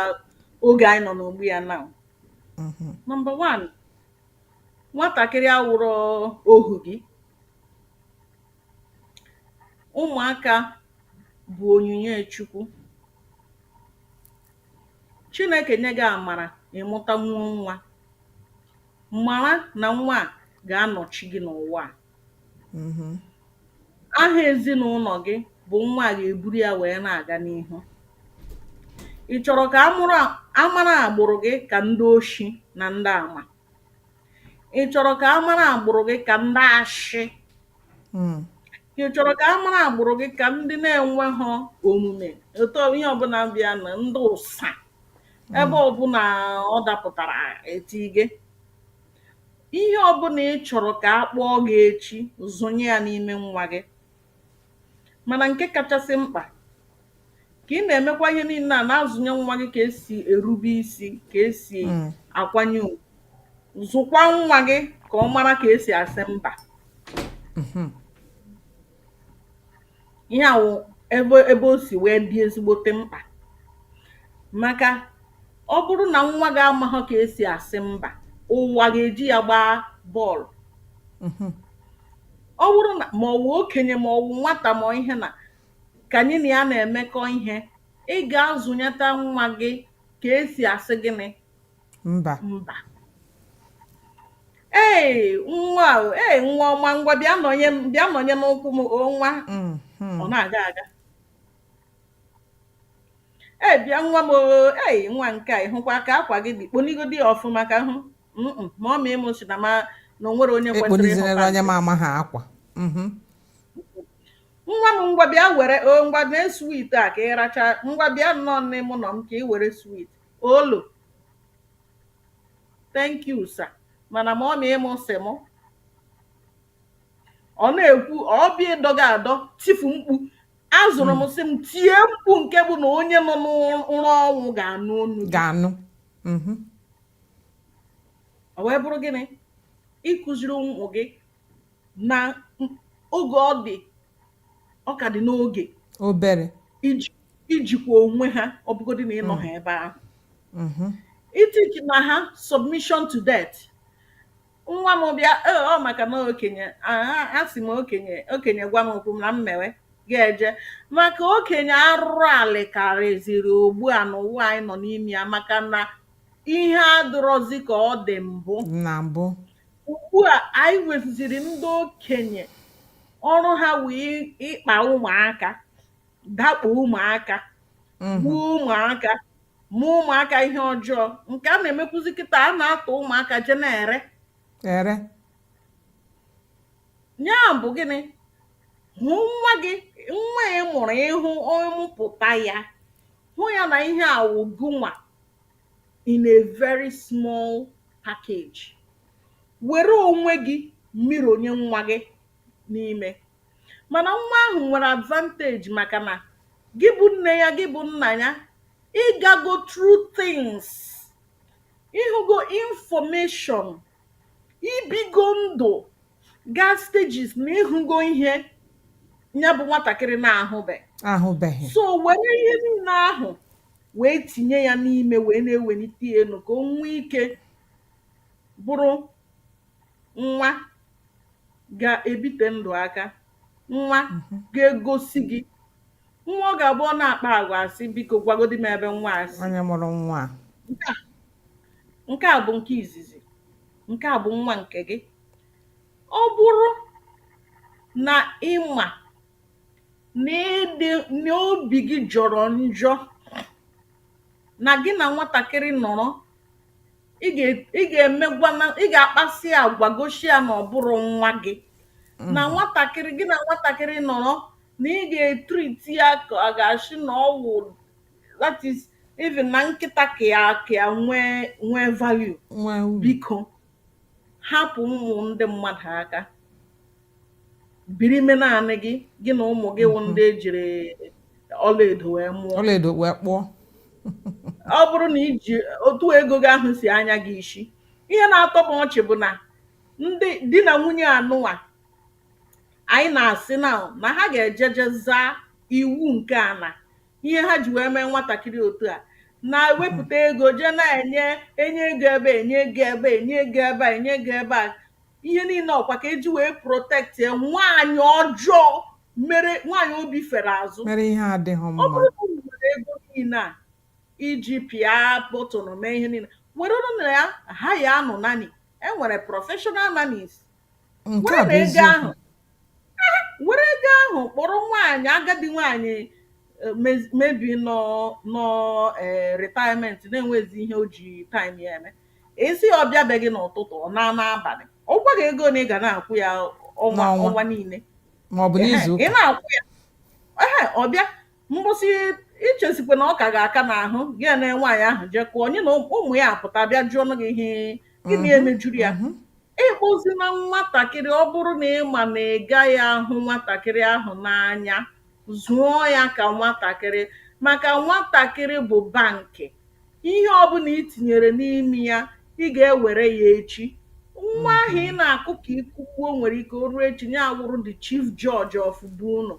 oge anyị nọ n'ugbu a now Mhm. number one nwatakịrị awụrọ ohu gị ụmụaka bụ onyinye chukwu Chineke nye gị amara ị mụtanwuo nwa, mara na nwa a ga-anọchi gị n'ụwa a. Mm-hmm. Aha ezinụlọ gị bụ nwa a ga-eburu ya wee na-aga n'ihu. Ị chọrọ ka a mara agbụrụ gị ka ndị oshi na ndị ama? ị chọrọ ka a mara agbụrụ gị ka ndị ashị hmm. ị chọrọ ka a mara agbụrụ gị ka ndị na-enweghị omume etu ihe ọbụla bịa na ndị ụsa hmm. ebe ọbụla ọ dapụtara eti gị ihe ọbụla ị chọrọ ka a kpọọ gị echi zụnye ya n'ime nwa gị Mana nke kachasị mkpa, ka ị na-emekwa ihe niile a na-azụnye nwa gị ka esi erube isi, ka esi hmm. akwanye ugwu. Zụkwa nwa gị ka ọ mara ka esi asị mba. Mhm. Ihe a wụ ebe ebe o si wee dị ezigbote mkpa. Maka ọ bụrụ na nwa gị amaghọ ka esi asị mba, ụwa ga-eji ya gbaa bọọlụ. Mhm. Ọ bụrụ na ma ọ wụ okenye ma ọ wụ nwata ma ọ ihe na ka anyị na ya na-emekọ ihe, ị ga-azụnyeta nwa gị ka e si asị gịnị? Mba. Mba. Ee, nwa o, ee, nwa ọma, ngwa bịa nọnye m, bịa nọnye n'ụkwụ m, o nwa. Mhm. Ọ na-aga aga. Ee, bịa nwa m o, ee, nwa nke a, ị hụkwa ka akwa gị dị, kponigodi ya ọfụma ka m hụ. Mm-mm, mummy mụ sị na m na o nwerọ onye kwesịrị ekponizinere ịhụta onye m nke amaghị akwa Mhm. nwa m ngwa bịa were o ngwa mee sweet a ka ị racha ngwa bịa nọnye m nọ m ka ị were sweet oh no thank you sir mana mummy mụ sị mụ ọ na-ekwu ọ bịa ịdọ gị adọ tifu mkpu a zụrụ m sị m tie mkpu nke bụ na onye nọ n'ụra ọnwụ ga-anụ onu gị ga-anụ mhm. ọ wee bụrụ gịnị ịkụziri ụmụ gị na oge ọ dị ọ ka dị n'oge obere ijikwa onwe ha ọ bụgodị na ị nọha mm. ebe ahụ mm-hmm. etichina ha submission to death nwa m bịa "Oh, ọ maka na okenye ah, a sị m okenye okenye gwa m okwu m na m mewe ga-eje maka okenye arụrụ alị karịziri ugbu a n'ụwa anyị nọ n'ime ya maka na ihe adịrọzi ka ọ dị mbụ na mbụ ugbu a anyị nweziziri ndị okenye ọrụ ha wụ ịkpa ụmụaka dakpo ụmụaka gbuo ụmụaka mee ụmụaka ihe ọjọọ nke a na-emekwuzi kịta a na-atọ ụmụaka je na-ere ere ya bụ gịnị hụ nwa gị nwa ị mụrụ ị hụ ị mụpụta ya hụ ya na ihe a wụ gị nwa in a very small package were onwe gị niile wụnye nwa gị n'ime mana nwa ahụ nwere advantage maka na gị bụ nne ya gị bụ nna ya ị gago through things ị hụgo information i bigo ndụ gaa stages na ị hụgo ihe ya bụ nwatakịrị na-ahụbe ahụbeghị so were ihe niile ahụ wee tinye ya n'ime wee na-ewelite ya elu ka o nwee ike bụrụ nwa ga-ebite ndụ aka nwa ga-egosi gị nwa ọ ga-abụ ọ na-akpa agwa asị biko gwagodi m ebe nwa a si onye mụrụ nwa a nke a nke a bụ nke izizi nke a bụ nwa nke gị ọ bụrụ na ị ma na ị dị na obi gị jọrọ njọ na gị na nwatakịrị nọrọ ị ga ị ga-emegwa na ị ga-akpasị agwa gosi ya na ọ bụrọ nwa gị na nwatakịrị gị na nwatakịrị nọrọ na ị ga-etriti ya ka ọ ga-asị na ọ wụ that is even na nkịta ka ya ka ya nwee nwee value nwee uru biko hapụ ụmụ ndị mmadụ aka biri me naanị gị gị na ụmụ gị wụ ndị e jiri ọlaedo wee mụọ ọlaedo wee kpụọ ọ bụrụ na i ji otu ego gị ahụ si anya gị isi ihe na-atọ m ọchị bụ na ndị di na nwunye anụnwa anyị na-asị na na ha ga-eje jee zaa iwu nke a na ihe ha ji wee mee nwatakịrị otu a na-ewepụta ego jee na-enye enye ego ebe enye ego ebe enye ego ebe a enye ego ebe a ihe niile ọ kwa ka e ji wee protectie nwaanyị ọjọọ mere nwaanyị obi fere azụ mere ihe adịghị mma ọ bụrụ na unu nwere ego niile a e ji pịa button mee ihe niile werenụ na ya hayaanụ nanny e nwere professional nannies werenụ ego ahụ were ego ahụ kpọrọ nwaanyị agadi nwaanyị maybe nọ na retirement na-enwezi ihe o ji time ya eme ị sị ya ọ bịa be gị n'ụtụtụ ọ naa n'abalị ọ gwa gị ego one ị ga na-akwụ ya ọnwa N'ọnwa. ọnwa niile ma ọ bụ n'izu ị ga na-akwụ ya ehe ọ bịa mgbụsị i chesikwa na ọ ka ga-aka n'ahụ gị na nwaanyị ahụ jekụọ onye na ụmụ ya apụta bịa jụọnụ gị ihe gịnị mhm, emejuru ya mhm. ị hụzi na nwatakịrị ọ bụrụ na ị ma na ị gaghị ahụ nwatakịrị ahụ n'anya zụọ ya ka nwatakịrị maka nwatakịrị bụ bankị Ihe ọ bụla i tinyere n'ime ya, ị ga-ewere ya echi. Nwa ahụ ị na-akụ ka ị kụgbuo nwere ike o ruo echi ya awụrụ the chief judge of be unu.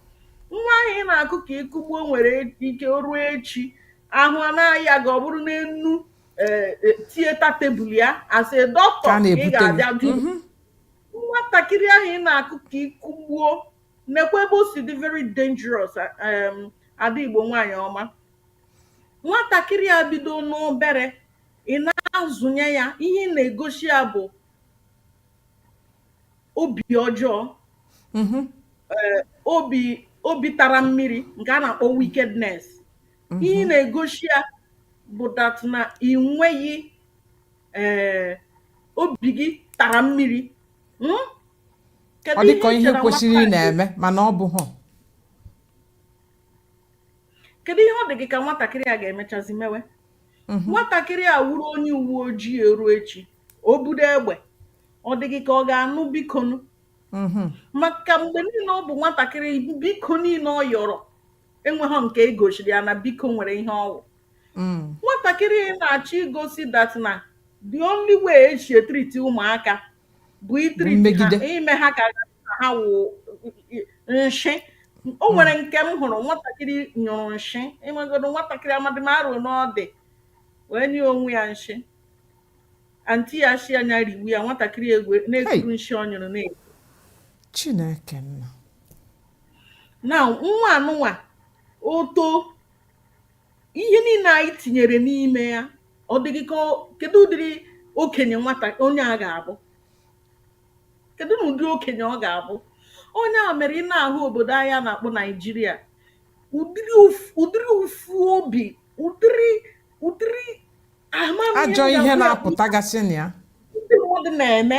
Nwa ahụ ị na-akụ ka ị kụgbuo nwere ike o ruo echi ahụ a na-aya gị ọ bụrụ n'enu eh, eh, theatre table ya as a doctor Ka a ka ị na-ebute gị. ga-abịa du nwatakịrị ahụ ị na-akụ ka ị kụgbuo nekwa ebe o si dị very dangerous um, ada Igbo nwaanyị ọma nwatakịrị a bido n'obere ị na-azụnye ya ihe ị na-egosi ya bụ obi ọjọọ mhm. eh, obi obi tara mmiri nke a na-akpọ wickedness mhm. ihe ị na-egosi ya bụ that na ị nweghị eh, obi gị tara mmiri hmm? ọ dị ka ọ ihe kwesịrị ị na-eme mana ọ bụghị kedu ihe ọ dị gị ka nwatakịrị a ga-emechazi mewe mhm. nwatakịrị a wuru onye uwe ojii e ruo echi o budo egbe ọ dị gị ka ọ ga-anụ bikonu mhm. maka mgbe niile ọ bụ nwatakịrị biko niile ọ yọrọ enweghị nke e gosiri ya na biko nwere ihe ọ wụ mm. nwatakịrị ị na-achọ igosi that na the only way e si etriti ụmụaka bụ itriti ha ime ha ka ha wụ nshị o nwere hmm. nke m hụrụ nwatakịrị nyụrụ nshị enwegodo nwatakịrị amadị m arụ n'ọdị wee nyụọ onwe ya nshị anti ya shị ya nya riwe ya nwatakịrị egwu na-ekuru nshị ọ nyụrụ na chineke nna na nwa anụnwa o too ihe niile anyị tinyere n'ime ya ọ dị gị ka kedu ụdịrị okenye nwata onye a ga-abụ kedunụ ụdị okenye ọ ga-abụ ọ nya mere ị na-ahụ obodo anyị a na-akpọ naijiria ụdịrị ụf- ụdịrị ụfụ obi ụdịrị ụdịrị amamihe ajọ ihe ga-agwa ya na-apụtagasị na ya ndị mmadụ na-eme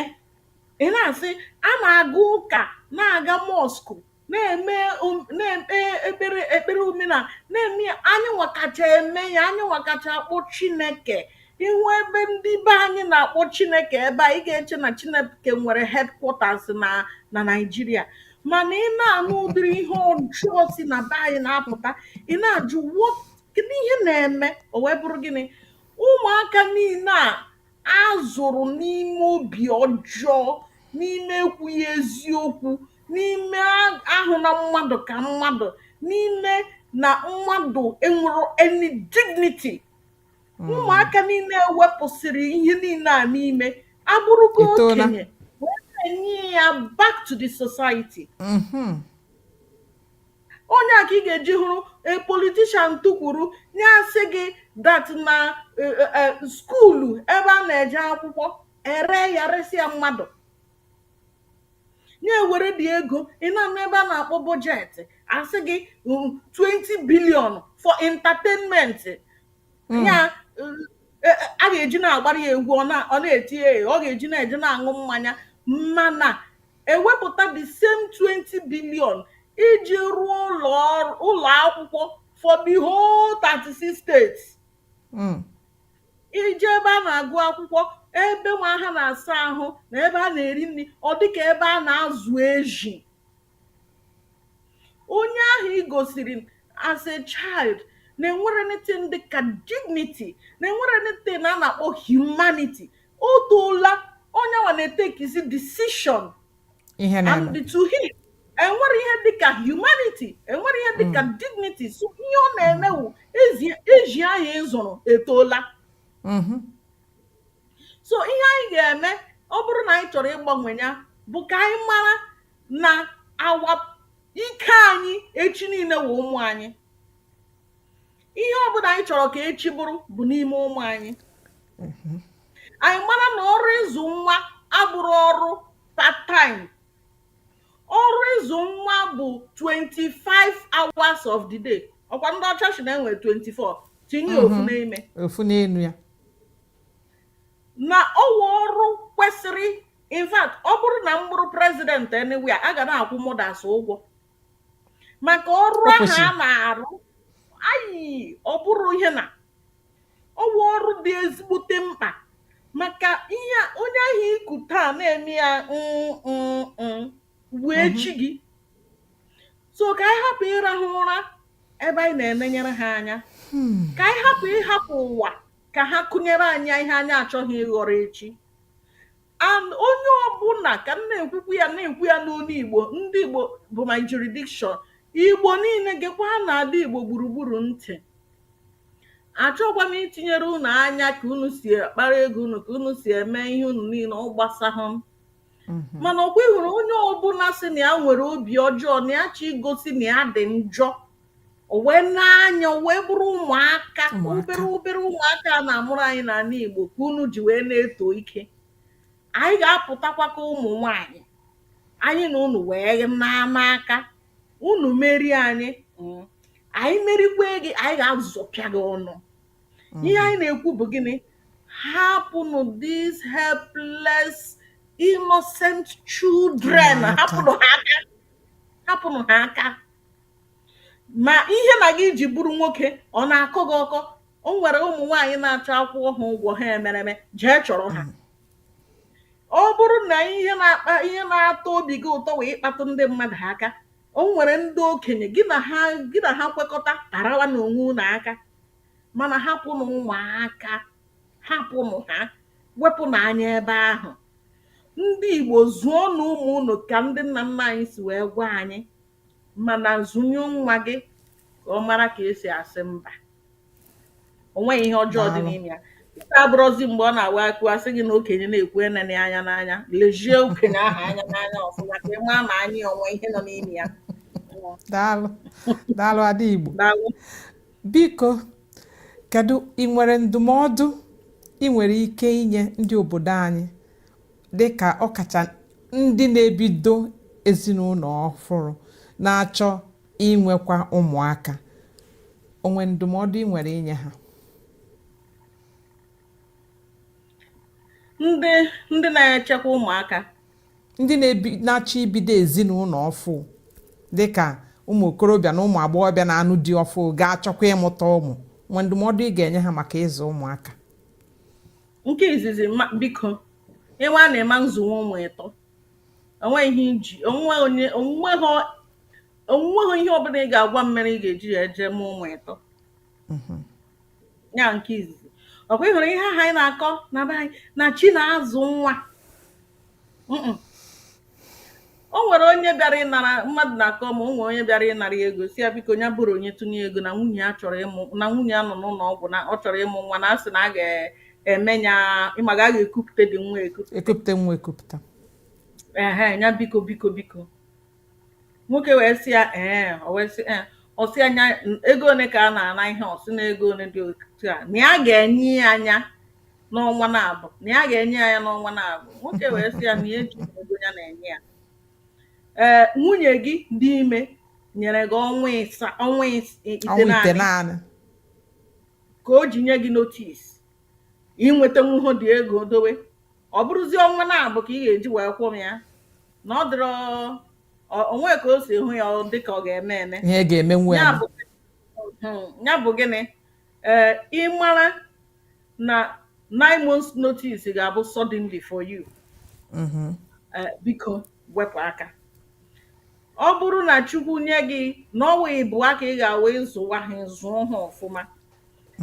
ị na-asị a na-aga ụka na-aga mọskụ na-eme um, na-ekpe ekpere ekpere omenala na-eme ya anyịnwa kacha eme ya anyịnwa kacha akpọ chineke ị hụ ebe ndị be anyị na-akpọ chineke ebe a ị ga-eche na chineke nwere headquarters na na naijiria mana ị na-anụ ụdịrị ihe ọjọọ si na be anyị na-apụta ị na-ajụ what? kedu ihe na-eme o wee bụrụ gịnị ụmụaka niile a A zụrụ n'ime obi ọjọọ, n'ime ekwughị eziokwu, n'ime ahụna mmadụ ka mmadụ, n'ime na mmadụ enwerọ any dignity. Hmm. Ụmụaka niile e wepụsịrị ihe niile a n'ime ha abụrụgo okenye wee na-enye ya back to the society. Mm-hmm. ọ nya ka ị ga-eji hụrụ a politician tukwuru nya asị gị that na eh, eh, eh, skuulu ebe a na-eje akwụkwọ e ree ya resị ya mmadụ nya ewere dị ego ị na-anụ ebe a na-akpọ bọjetị a sị gị mm, 20 billion for entertainment ya mm, eh, eh, a ga-eji na-agbara ya egwu ọ na- ọ na-eti ya ọ ga-eji na-eje na-aṅụ mmanya mana ewepụta the same 20 billion iji rụọ ụlọ ọrụ- ụlọ akwụkwọ for the whole 36 states Mm. i jee ebe a na-agụ akwụkwọ ebe nwa ahụ na-asa ahụ na ebe a na-eri nri ọ dịka ebe a na-azụ ezi onye ahụ i gosiri as a child na enwere anything dị ka dignity na enwere anything a na-akpọ humanity o toola onye nwa na-etekizi decision and to him enwere ihe dịka humanity enwere ihe dịka dignity so ihe ọ na-eme wụ ezi anyị zụrụ etoola Mhm. so ihe anyị ga-eme ọ bụrụ na anyị chọrọ ịgbanwe ya bụ ka anyị mara na awa ike anyị echi niile wụ ụmụ anyị ihe ọ bụla anyị chọrọ ka echi bụrụ bụ n'ime ụmụ anyị mhm. anyị mara na ọrụ ịzụ nwa abụrụ ọrụ part time ọrụ ịzụ nwa bụ 25 hours of the day ọkwa ndị ọcha sị na enwere 24 tinye mhm. ofu n'ime ofu n'elu ya na ọwụ ọrụ kwesịrị in fact ọ bụrụ na m bụrụ president anyway a ga na-akwụ mothers ụgwọ maka ọrụ ahụ ha na-arụ ayi ọ bụrụ ihe na ọwụ ọrụ dị ezigbote mkpa maka ihe onye ahụ i ku taa na-eme ya wụ mhm. echi gị so ka anyị hapụ ịrahụ ụra ebe anyị na-enenyere ha anya hmm. ka anyị hapụ ịhapụ ụwa ka ha kụnyere anyị ihe anyị achọghị ịghọrọ echi and onye ọbụla ka m na-ekwukwu ya na-ekwu ya n'olu igbo ndị igbo bụ my jurisdiction igbo niile gekwa n'ala igbo gburugburu ntị achọkwa m itinyere unu anya ka unu si akpara ego unu ka unu si eme ihe unu niile ọ gbasahụ m mhm. mana ọkwa ị hụrụ onye ọbụla sị na ya nwere obi ọjọọ na ya chọ igosi na ya dị njọ o wee na-anya o wee bụrụ ụmụaka Ụmụaka. obere obere ụmụaka a na-amụrụ anyị n'ala Igbo ka unu ji wee na-eto ike anyị ga-apụtakwa ka ụmụ nwanyị anyị na unu wee na-ama aka unu merie anyị mm, anyị merikwe gị anyị ga-azọpịa gị ọnụ ihe anyị na-ekwu bụ gịnị hapụnụ these helpless innocent children Ụmụaka. hapụnụ ha aka hapụnụ ha aka Ma ihe na gị ji bụrụ nwoke ọ na-akọ gị ọkọ? O nwere ụmụ nwaanyị na-achọ a kwụọ ha ụgwọ ha emereme, jee chọrọ ha. Mm. Ọ bụrụ na ihe na-akpa ihe na-atọ obi gị ụtọ bụ ịkpatụ ndị mmadụ aka, o nwere ndị okenye gị na ha gị na ha kwekọta arawa na onwe unu aka mana hapụnụ ụmụaka hapụnụ ha wepụnụ anya ebe ahụ ndị Igbo zụọnụ ụmụ unu ka ndị nna nna anyị si wee gwa anyị Mana zụnye nwa gị ka ọ mara ka esi asị mba. O nweghị ihe ọjọọ dị n'ime ya. Nke a abụrọzi mgbe ọ na-awa akụ asị gị na okenye na-ekwu enena ya anya n'anya. Lezie okenye ahụ anya n'anya ọfụma ka ị maa ma anya ya o nwe ihe nọ n'ime ya. Daalụ. Daalụ Ada Igbo. Daalụ. Biko, kedu ị nwere ndụmọdụ ị nwere ike inye ndị obodo anyị dị ka ọkacha ndị na-ebido ezinụlọ ọfụrụ na-achọ inwekwa ụmụaka o nwe ndụmọdụ ị nwere inye ha ndị ndị na-echekwa ụmụaka ndị na-achọ ibido ezinụlọ ọfụ dị ka ụmụ okorobịa na ụmụ agbọghọbịa na-anụ di ọfụ ga-achọkwa ịmụta ụmụ o nwe ndụmọdụ ị ga-enye ha maka ịzụ ụmụaka Nke izizi ma biko ị maa na ị ma nzụnwu ụmụ ịtọ onweghị ihe iji onweghị onye onweghị onweghị ihe ọbụla ị ga-agwa m mere ị ga-eji jee mụọ ụmụ ịtọ ya nke izizi ọkwa ị hụrụ ihe ahụ anyị na-akọ na be anyị na chi na-azụ nwa Mm-mm. o nwere onye bịara ịnara mmadụ na-akọ ma o nwere onye bịara ịnara ya ego sị ya biko ya bụrụ onye tụnye ego na nwunye ya chọrọ ịmụ na nwunye ya nọ n'ụlọ ọgwụ na ọ chọrọ ịmụ nwa na a sị na a ga-eme ya ịma ga a ga-ekupụta dị nwa ekupụta ekupụta nwa ekupụta ehe ya biko biko biko Nwoke wee sị ya, Ee. O wee sị, Ee. Ọ sị ya, "Nya- n- Ego ole ka a na-ana ihe? Ọ sị na ego ole dị otu a. Na ya ga-enye ya nya n'ọnwa naabọ. Na ya ga-enye ya nya n'ọnwa naabọ. Nwoke wee sị ya na ya ejighị ego ya na-enye ya. Ee, nwunye gị dị ime nyere gị ọnwa ịsa ọnwa ịs- ite ọnwa itenaanị ka o ji nye gị notis ị nwetanwuhọ dị ego dowe ọ bụrụzie ọnwa naabọ ka ị ga-eji wee kwụọ m ya na ọ dịrọ ọ- o nwe ka o si hụ ya ọ dị ka ọ ga-eme eme ihe ga-eme nwe ya bụ Hmm, ya bụ gịnị ee ịmara na nine months notice ga-abụ suddenly for you Eh, biko wepụ aka ọ bụrụ na chukwu nye gị na ọ nwa ịbụa ka ị ga-awa ịzụwa ha zụọ ha ọfụma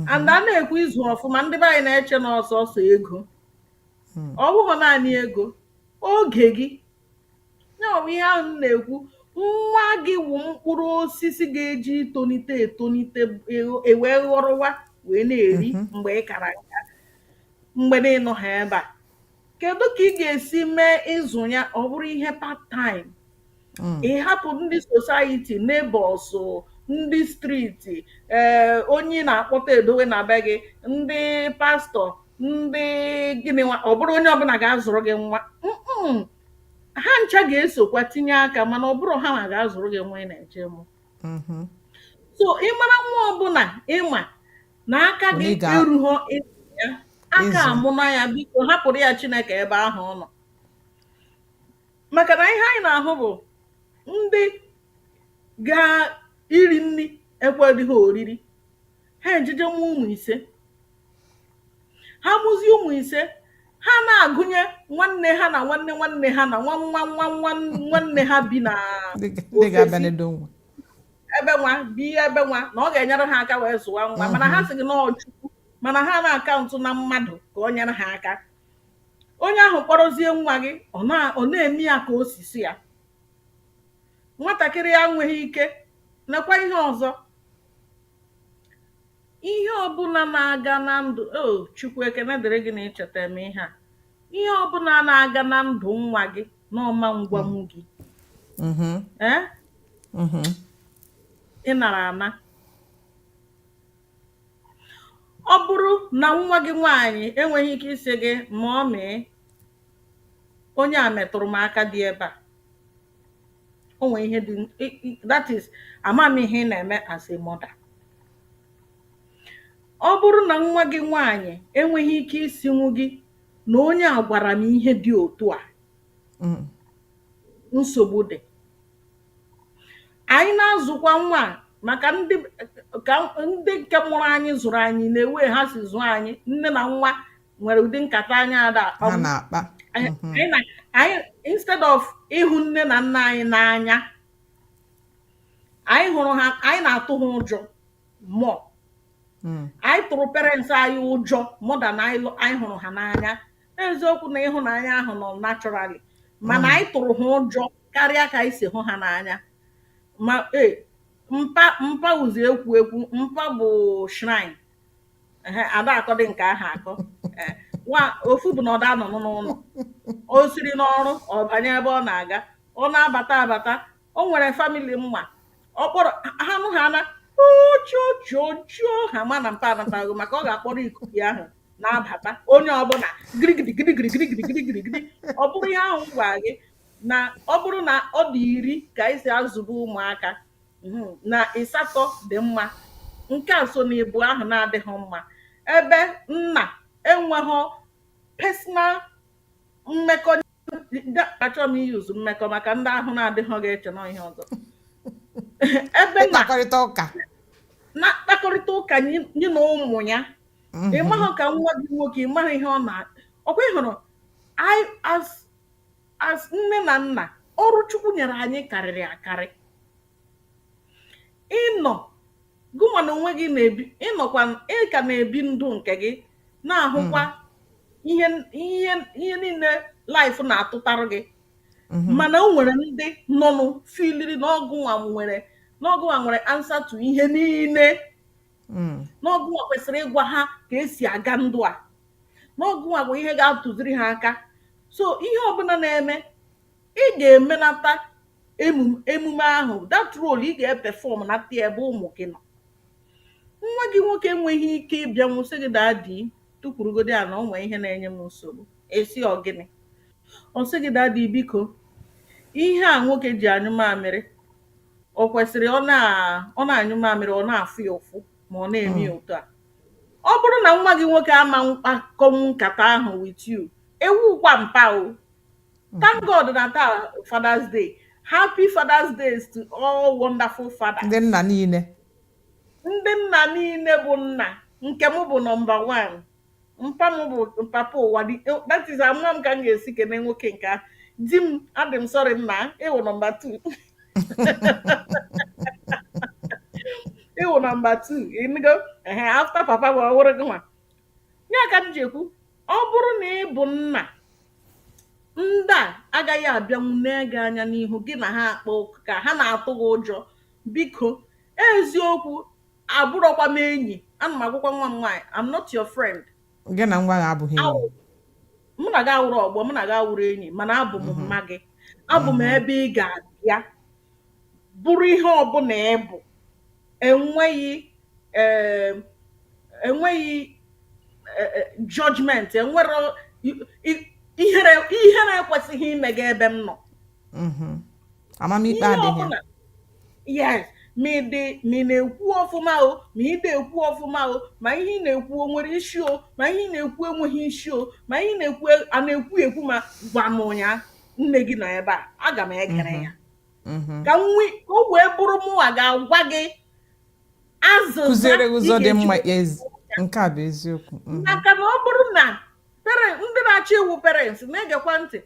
and a na-ekwu ịzụ ọfụma ndị be anyị na-eche na ọ sọsọ ego Hmm. ọ bụghị naanị ego oge gị ya bụ ihe ahụ m na-ekwu nwa gị wụ mkpụrụ osisi ga-eji tonite etonite e- e wee ghọrọwa wee na-eri Mhm. mgbe ị kara nka mgbe na ị nọha ebe a kedu ka ị ga-esi mee ịzụ ya ọ bụrụ ihe part time mm. ị hapụ ndị society neighbors ndị street ee eh, onye na-akpọta edowe na be gị ndị pastor ndị gịnịwa ọ bụrụ onye ọbụla ga-azụrụ gị nwa ha ncha ga-esokwa tinye aka mana ọ bụrọ ha nwa ga-azụrụ gị nwa ị na-eje mụ mm-hmm. so ị mara nwa ọbụla ị ma na aka gị erughọ ya aka amụna ya biko hapụrụ ya Chineke ebe ahụ ọ nọ maka na ihe anyị na-ahụ bụ ndị ga iri nri ekweghị ha oriri ha ejeje mụọ ụmụ ise ha mụzie ụmụ ise ha na-agụnye nwanne ha na nwanne nwanne ha na nwa nwa nwa nwa nwanne ha bi na Ndị ga- ndị ga-abịa ofesi n'edo nwa. ebe nwa bi ebe nwa na ọ ga-enyere ha aka wee zụwa nwa mana ha sị gị na ọ Chukwu mana ha na-acount na mmadụ ka o nyere ha aka onye ahụ kpọrọzie nwa gị ọ na ọ na-eme ya ka osisi ya nwatakịrị a enweghị ike nakwa ihe ọzọ ihe ọbụla na-aga na ndụ o Chukwu ekene dịrị gị na i cheta m ihe a ihe ọbụla na-aga na ndụ nwa gị na ọ ma gwanwu gị mm-hmm. ee mm-hmm. ị nara ana ọ bụrụ na nwa gị nwaanyị enweghị ike ịsị gị mummy onye a metụrụ m aka dị ebe a o nwere ihe dị that is ama m ihe ị na-eme as a mother ọ bụrụ na nwa gị nwaanyị enweghị ike ịsịnwu gị na onye a gwara m ihe dị otu a nsogbu dị ànyị na-azụ̀kwa nwa à màkà ndị kà ndị ǹkè mụrụ anyị zụ̀rụ̀ anyị nà way ha sì zụ̀ọ anyị nne nà nwa nwèrè ụ̀dị nkàta anyị àdà àkpa ha nà-àkpa anyị nà anyị instead of ịhụ nne nà nna anyị n'anya anyị hụrụ ha anyị nà-àtụ ha ụjọ̇ more anyị tụ̀rụ̀ parents anyị ụjọ̇ more than anyị hụrụ ha n'anya eziokwu na ịhụnanya ahụ nọ naturally mana anyị tụrụ ha ụjọ karịa ka anyị si hụ ha n'anya ma ee mpa mpa wụzi ekwu ekwu mpa bụ shrine ehe ada akọdị nke ahụ akọ ee nwa ofu bụ na ọ da-anọ n'ụlọ o siri n'ọrụ ọ banye ebe ọ na-aga ọ na-abata abata o nwere famili m ma ọ kpọrọ ha nụ ha na ojojojo ha ma na mpa anataghị maka ọ ga-akpọrọ ikuku ya ahụ na-abata onye ọbụla girigidi girigidi girigidi girigidi gidi ọ bụrụ ihe ahụ m gwara gị na ọ bụrụ na ọ dị iri ka anyị si azụba ụmụaka mhm, na ịsatọ dị mma nke a so n'ịbụọ ahụ na-adịghị mma ebe nna enweghị personal mmekọ achọrọ m iyuzu mmekọ maka ndị ahụ na-adịghị ga-eche na ihe ọzọ ebe na mkpakọrịta ụka na mkpakọrịta ụka nye nye na ụmụ ya ị maghị ka nwa gị nwoke ị maghị ihe ọ na ọ kwa ị hụrụ I as as nne na nna ọrụ Chukwu nyere anyị karịrị akarị ị nọ gụnwa na onwe gị na-ebi ị nọkwa ị ka na-ebi ndụ nke gị na-ahụkwa ihe ihe ihe niile life na-atụtara gị mana o nwere ndị nọnụ filiri na ọ gụnwa nwere na ọ gụnwa nwere ansa to ihe niile na ọ gụnwa kwesịrị ịgwa ha ka e si aga ndụ a na ọ gụnwa bụ ihe ga-atụziri ha aka so ihe ọbụla na-eme ị ga-emenata emume emume ahụ that role ị ga-epefọmnata ebe ụmụ gị nọ nwa gị nwoke enweghị ike ịbịanwu sị gị dadi tukwurugodi ana o nwere ihe na-enye m nsogbu ị sị ọ gịnị ọ sị gị dadi biko ihe a nwoke ji anyụ mamịrị o kwesịrị ọ na ọ na-anyụ mamịrị ọ na-afụ ya ụfụ ma ọ na-eme ya otu a ọ bụrụ na nwa gị nwoke ama akpakọnwu nkata ahụ with you ị wụkwa mpa o Thank God na taa Father's Day. Happy Father's Day to all wonderful fathers. Ndị nna niile. Ndị nna niile bụ nna nke m bụ nọmba one. Mpa m bụ papa ụwa that is ama m ka m ga-esi kene nwoke nke a. Di m adị m sọrị nna ị wụ nọmba two. ị wụ nọmba two ị nụgo after papa mụ ọ wụrụ gị nwa ya ka m ji ekwu ọ bụrụ na ị bụ nna ndị a agaghị abịanwu nee gị anya n'ihu gị na ha akpa ụka ka ha na-atụ gị ụjọ biko eziokwu abụrọkwa m enyi ana m agwakwa nwa m nwaanyị I'm not your friend gị na nwa gị abụghị enyi Awụ- mụ na gị awụrụ ọgbọ mụ na gị awụrụ enyi mana abụ m mma gị abụ m ebe ị ga-abịa bụrụ ihe ọbụla ị bụ enweghị um enweghị um judgment enwerọ ihere ihere ekwesịghị ime gị ebe m nọ mm-hmm. amamikpe adịghị yes ma ịdị ma ị na-ekwu ọfụma o ma ị dịghị ekwu ọfụma o ma ihe ị na-ekwu o nwere isi o ma ihe ị na-ekwu enweghị isi o ma ihe ị na-ekwu a na-ekwu ekwu ma gwa mụnwa nne gị nọ ebe a aga m egere ya mhm. ka nwe ka o wee bụrụ mụnwa ga-agwa gị azịza kụziere gị ụzọ dị mma nke a bụ eziokwu mhm. maka na ọ bụrụ na ndị na-achọ ịwụ parents na-egekwa ntị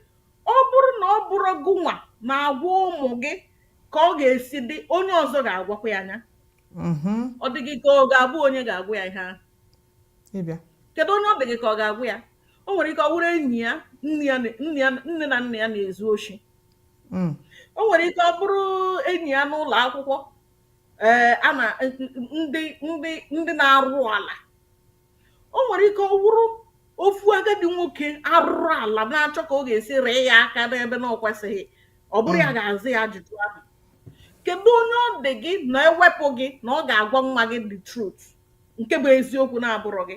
ọ bụrụ na ọ bụrọ gụnwa na-agwa ụmụ gị ka ọ ga-esi dị onye ọzọ ga-agwakwa ya nya mhm. ọ dị gị ka ọ ga-abụ onye ga-agwa ya ihe ahụ kedu onye ọ dị gị ka ọ ga-agwa ya o nwere ike ọ wụrụ enyi ya nne na nna ya na-ezu oshi hmm. o nwere ike ọ bụrụ enyi ya n'ụlọ akwụkwọ ee eh, a na ndị ndị ndị na-arụrụ ala o nwere ike ọ wụrụ ofu agadi nwoke arụrụ ala na-achọ ka ọ ga-esi rụ ya aka n'ebe na ọ kwesịghị ọ bụrụ ya hmm. ga-aza ya ajụjụ ahụ kedu onye ọ dị gị na ewepụ gị na ọ ga-agwa nwa gị the truth nke bụ eziokwu na-abụrọ gị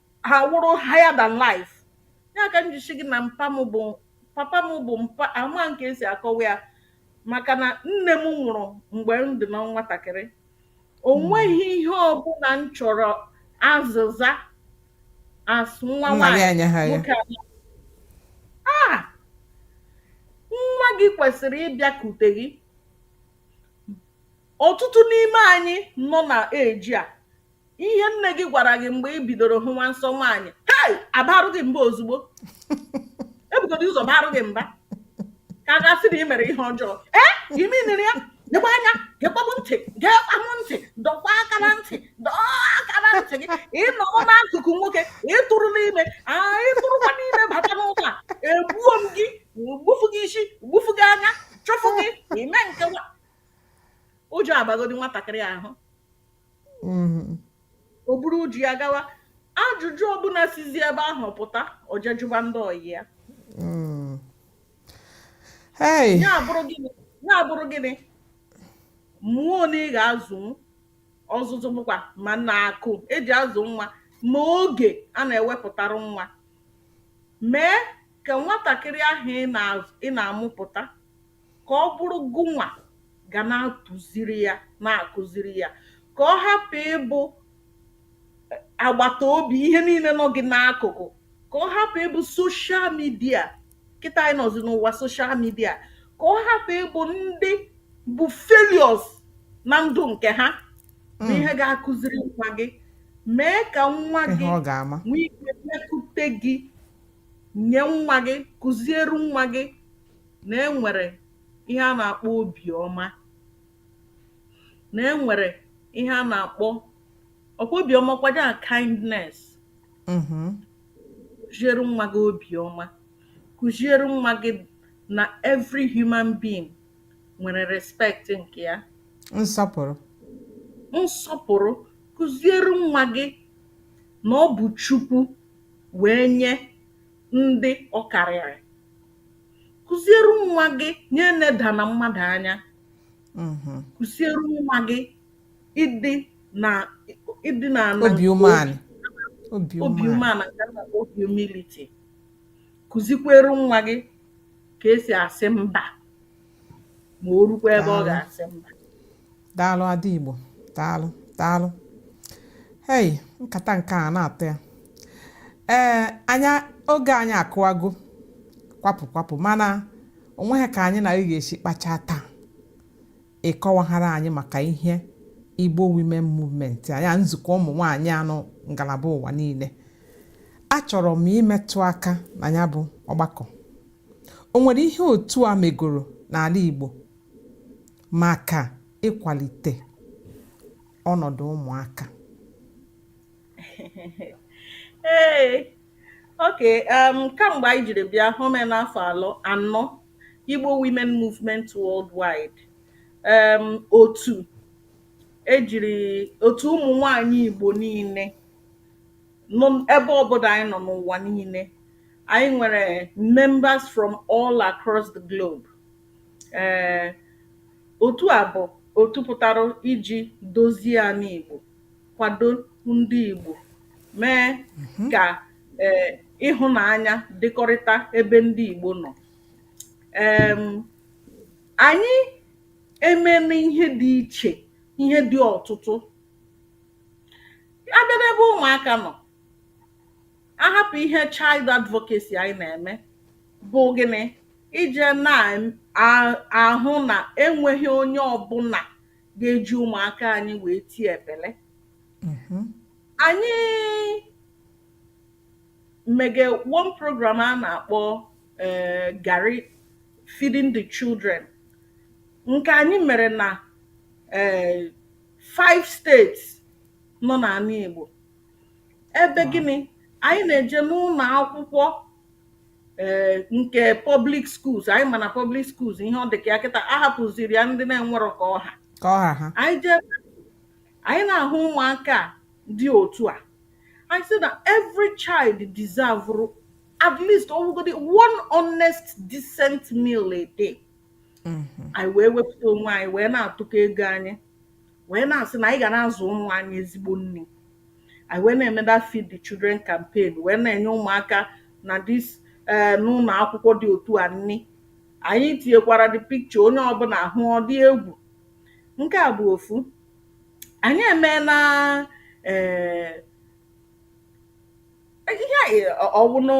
ha wụrụ higher than life ya ka m ji sị gị na mpa m bụ papa m bụ m ama nke e si akọwa ya maka na nne m nwụrụ mgbe m dị na nwatakịrị o nweghị ihe ọbụla m chọrọ azịza as nwa nna gị nwaanyị anya ha ya nwoke abịa ah nwa gị kwesịrị ịbịakute gị ọtụtụ n'ime anyị nọ na age a ihe nne gị gwara gị mgbe i bidoro hụwa nsọ nwaanyị hei abaarụ gị mba ozugbo ebugodi ụzọ baarụ gị mba ka a ga-asị na ị mere ihe ọjọọ ee imenere ya nyekwa anya gekwa mụ ntị gekwa mụ ntị dọkwa aka na ntị dọọ aka na ntị gị ị nọrọ n'akụkụ nwoke ị tụrụ ime aa ị tụrụkwa ime bata n'ụlọ a egbuo m gị gbufu gị isi gbufu gị anya chụfụ gị ime nke nwa ụjọ abagodi nwatakịrị ahụ o buru ụjọ a gawa ajụjụ ọbụla sizi ebe ahụ pụta o jee jụba ndị ọyị ya ya abụrụ gị ya abụrụ gị na ị mụọ na ị ga-azụ ọzụzụ bụkwa ma na akụ e ji azụ nwa ma oge a na-ewepụtara nwa mee ka nwatakịrị ahụ ị na-amụpụta ka ọ bụrụ gụnwa ga na-atụziri ya, na-akụziri ya, ka ọ hapụ ịbụ agbata obi ihe niile nọ gị n'akụkụ, ka ọ hapụ ịbụ social media kịta anyị nọzi n'ụwa social media, ka ọ hapụ ịbụ ndị bụ failures na ndụ nke ha bụ hmm. ihe ga-akụziri nwa gị mee ka nwa gị nwee ike mekute gị nye nwa gị kụziere nwa gị na e nwere ihe a na-akpọ obi ọma, na e nwere ihe a na-akpọ ọkwa obi ọma kwado a kindness mm-hmm. kụziere nwa gị obi ọma kụziere nwa gị na every human being nwere respect nke ya nsọpụrụ nsọpụrụ kụziere nwa gị na ọ bụ Chukwu wee nye ndị ọ karịrị kụziere nwa gị nya enedana mmadụ anya mhm. kụziere nwa gị ịdị na ịdị na obi umeala obi umeala nke na ọ bụ humility kụzikwere nwa gị ka esi asị mba ma o rukwa ebe ọ ga-asị mba daalụ ada igbo daalụ daalụ hei nkata nke a na-atọ ya ee anya oge anyị akụwago kwapụ kwapụ mana onweghị ka anyị na gị ga-esi kpachaa taa ị kọwaghara anyị maka ihe igbo women movement anya nzukọ ụmụ nwaanyị a nọ ngalaba ụwa niile achọrọ m imetụ aka na nya bụ ọgbakọ o nwere ihe otu a megoro n'ala igbo maka ịkwalite ọnọdụ ụmụaka? Ee, okay, um, kamgbe anyị jiri bịa home n'afọ alọ anọ Igbo Women Movement Worldwide, um, otu ejiri otu ụmụ nwanyị Igbo niile nọ ebe ọbụla anyị nọ n'ụwa niile, anyị nwere members from all across the globe. Ee, otu a bụ otu pụtara iji dozie ana Igbo, kwado ndị Igbo, mee mhm. ka ee ịhụnanya dịkọrịta ebe ndị Igbo nọ. Ee, anyị emeena ihe dị iche, ihe dị ọtụtụ. A bịa n'ebe ụmụaka nọ, a hapụ ihe child advocacy anyị na-eme bụ gịnị ije na-ahụ na enweghị onye ọbụna ga-eji ụmụaka anyị wee tie epele mm-hmm. anyị mege one program a na-akpọ eh, garri feeding the children nke anyị mere na eh, five states nọ n'ana Igbo ebe gịnị anyị na-eje n'ụlọ akwụkwọ ee nke public schools anyị ma na public schools ihe ọ dị ka ya kịta a hapụziri ya ndị na-enwerọ ka ọ ha ka ọ ha ha anyị jee anyị na-ahụ ụmụaka a dị otu a anyị sị that every child deserve at least ọwụgodi one honest decent meal a day anyị wee wepụta onwe anyị wee na-atụkọ ego anyị wee na-asị na anyị ga na-azụ ụmụ anyị ezigbo nri anyị wee na-eme that feed the children campaign wee na-enye ụmụaka na this ee n'ụlọ akwụkwọ dị otu a nri anyị tinyekwara the picture onye ọbụla ahụ ọ dị egwu nke a bụ ofu anyị emeela ee ihe a ọ wụ nụ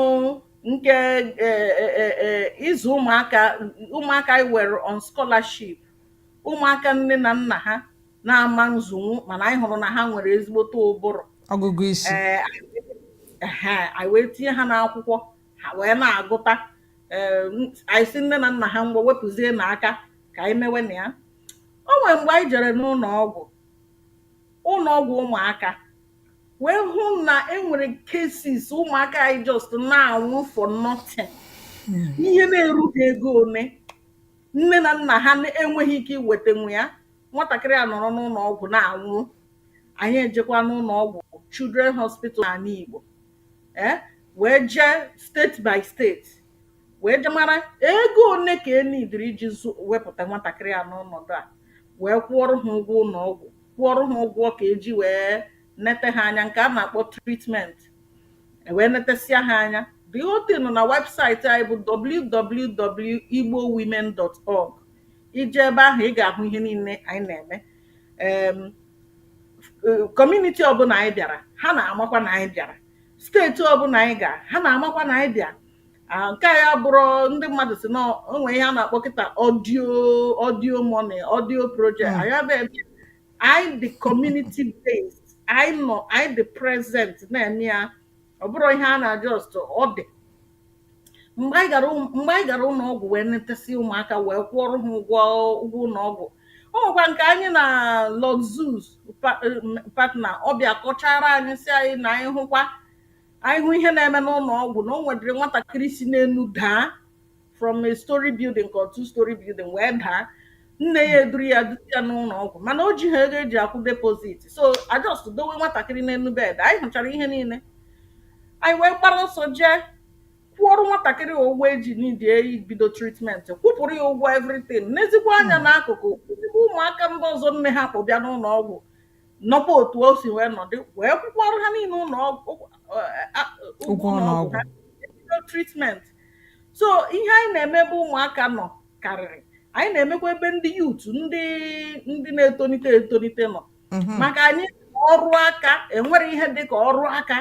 nke ee, e, e, e, ịzụ ụmụaka ụmụaka anyị were on scholarship ụmụaka nne na nna ha na-ama nzụnwu mana anyị hụrụ na ha nwere ezigbote ụbụrụ ọgụgụ isi ee ehe, anyị wee tinye ha n'akwụkwọ ha wee na-agụta ee, m- anyị sị nne na nna ha ngwa wepụzie na aka ka anyị mewe na ya o nwere mgbe anyị jere n'ụlọ ọgwụ ụlọ ọgwụ ụmụaka wee hụ na e nwere cases ụmụaka anyị just na-anwụ for nothing ihe na-erughị ego ole nne na nna ha enweghị ike iwetanwu ya nwatakịrị anọrọ n'ụlọ ọgwụ na-anwụ anyị ejekwa n'ụlọ ọgwụ children hospital n'ala Igbo ee wee jee state by state wee jee mara ego ole ka e needịrị iji zụ- wepụta nwatakịrị a n'ọnọdụ a wee kwụọrọ ha ụgwọ ụlọ ọgwụ kwụọrọ ha ụgwọ ka e ji wee nete ha anya nke a na-akpọ treatment e wee netesịa ha anya the whole thing nọ na website anyị bụ www.igbowomen.org i jee ebe ahụ ị ga-ahụ ihe niile anyị na-eme em community ọbụla anyị bịara ha na-amakwa na anyị bịara state ọbụla anyị ga ha na-amakwa na anyị bịa Ah, nke anyị abụrọ ndị mmadụ sị na o nwere ihe a na-akpọ kịta audio audio money audio project Mm. anyị abịa ebe anyị dị community based anyị nọ anyị dị present na-eme ya ọ bụrọ ihe a na just ọ dị mgbe anyị gara ụm- mgbe anyị gara ụlọ ọgwụ wee netesị ụmụaka wee kwụọrọ ha ụgwọ ụgwọ ụlọ ọgwụ o nwekwa nke anyị na Luxus pa- em, partner ọ bịa kọchara anyị sị anyị na anyị hụkwa anyị hụ ihe na-eme n'ụlọ ọgwụ na o nwedịrị nwatakịrị si n'elu daa from a story building ka two story building wee daa nne ya eduru ya duru ya n'ụlọ ọgwụ mana o jiha ego e ji akwụ deposit so a just dowe nwatakịrị n'elu bed anyị hụchara ihe niile anyị wee gbara ọsọ jee kwụọrụ nwatakịrị a ụgwọ e ji needie ibido treatment kwụpụrụ ya ụgwọ everything nezikwuo anya hmm. n'akụkụ hụzikwuo ụmụaka ndị ọzọ nne ha kpụ bịa n'ụlọ ọgwụ nọkwa otu o si wee nọdụ wee kwụkwọọrụ ha niile ụlọ ọgwụ ụgwọ ụlọ ọgwụ ha bido treatment so ihe anyị na-eme ebe ụmụaka nọ karịrị anyị na-emekwa ebe ndị youth ndị ndị na-etolite etolite nọ maka anyị ọrụ aka enwere ihe dị ka ọrụ aka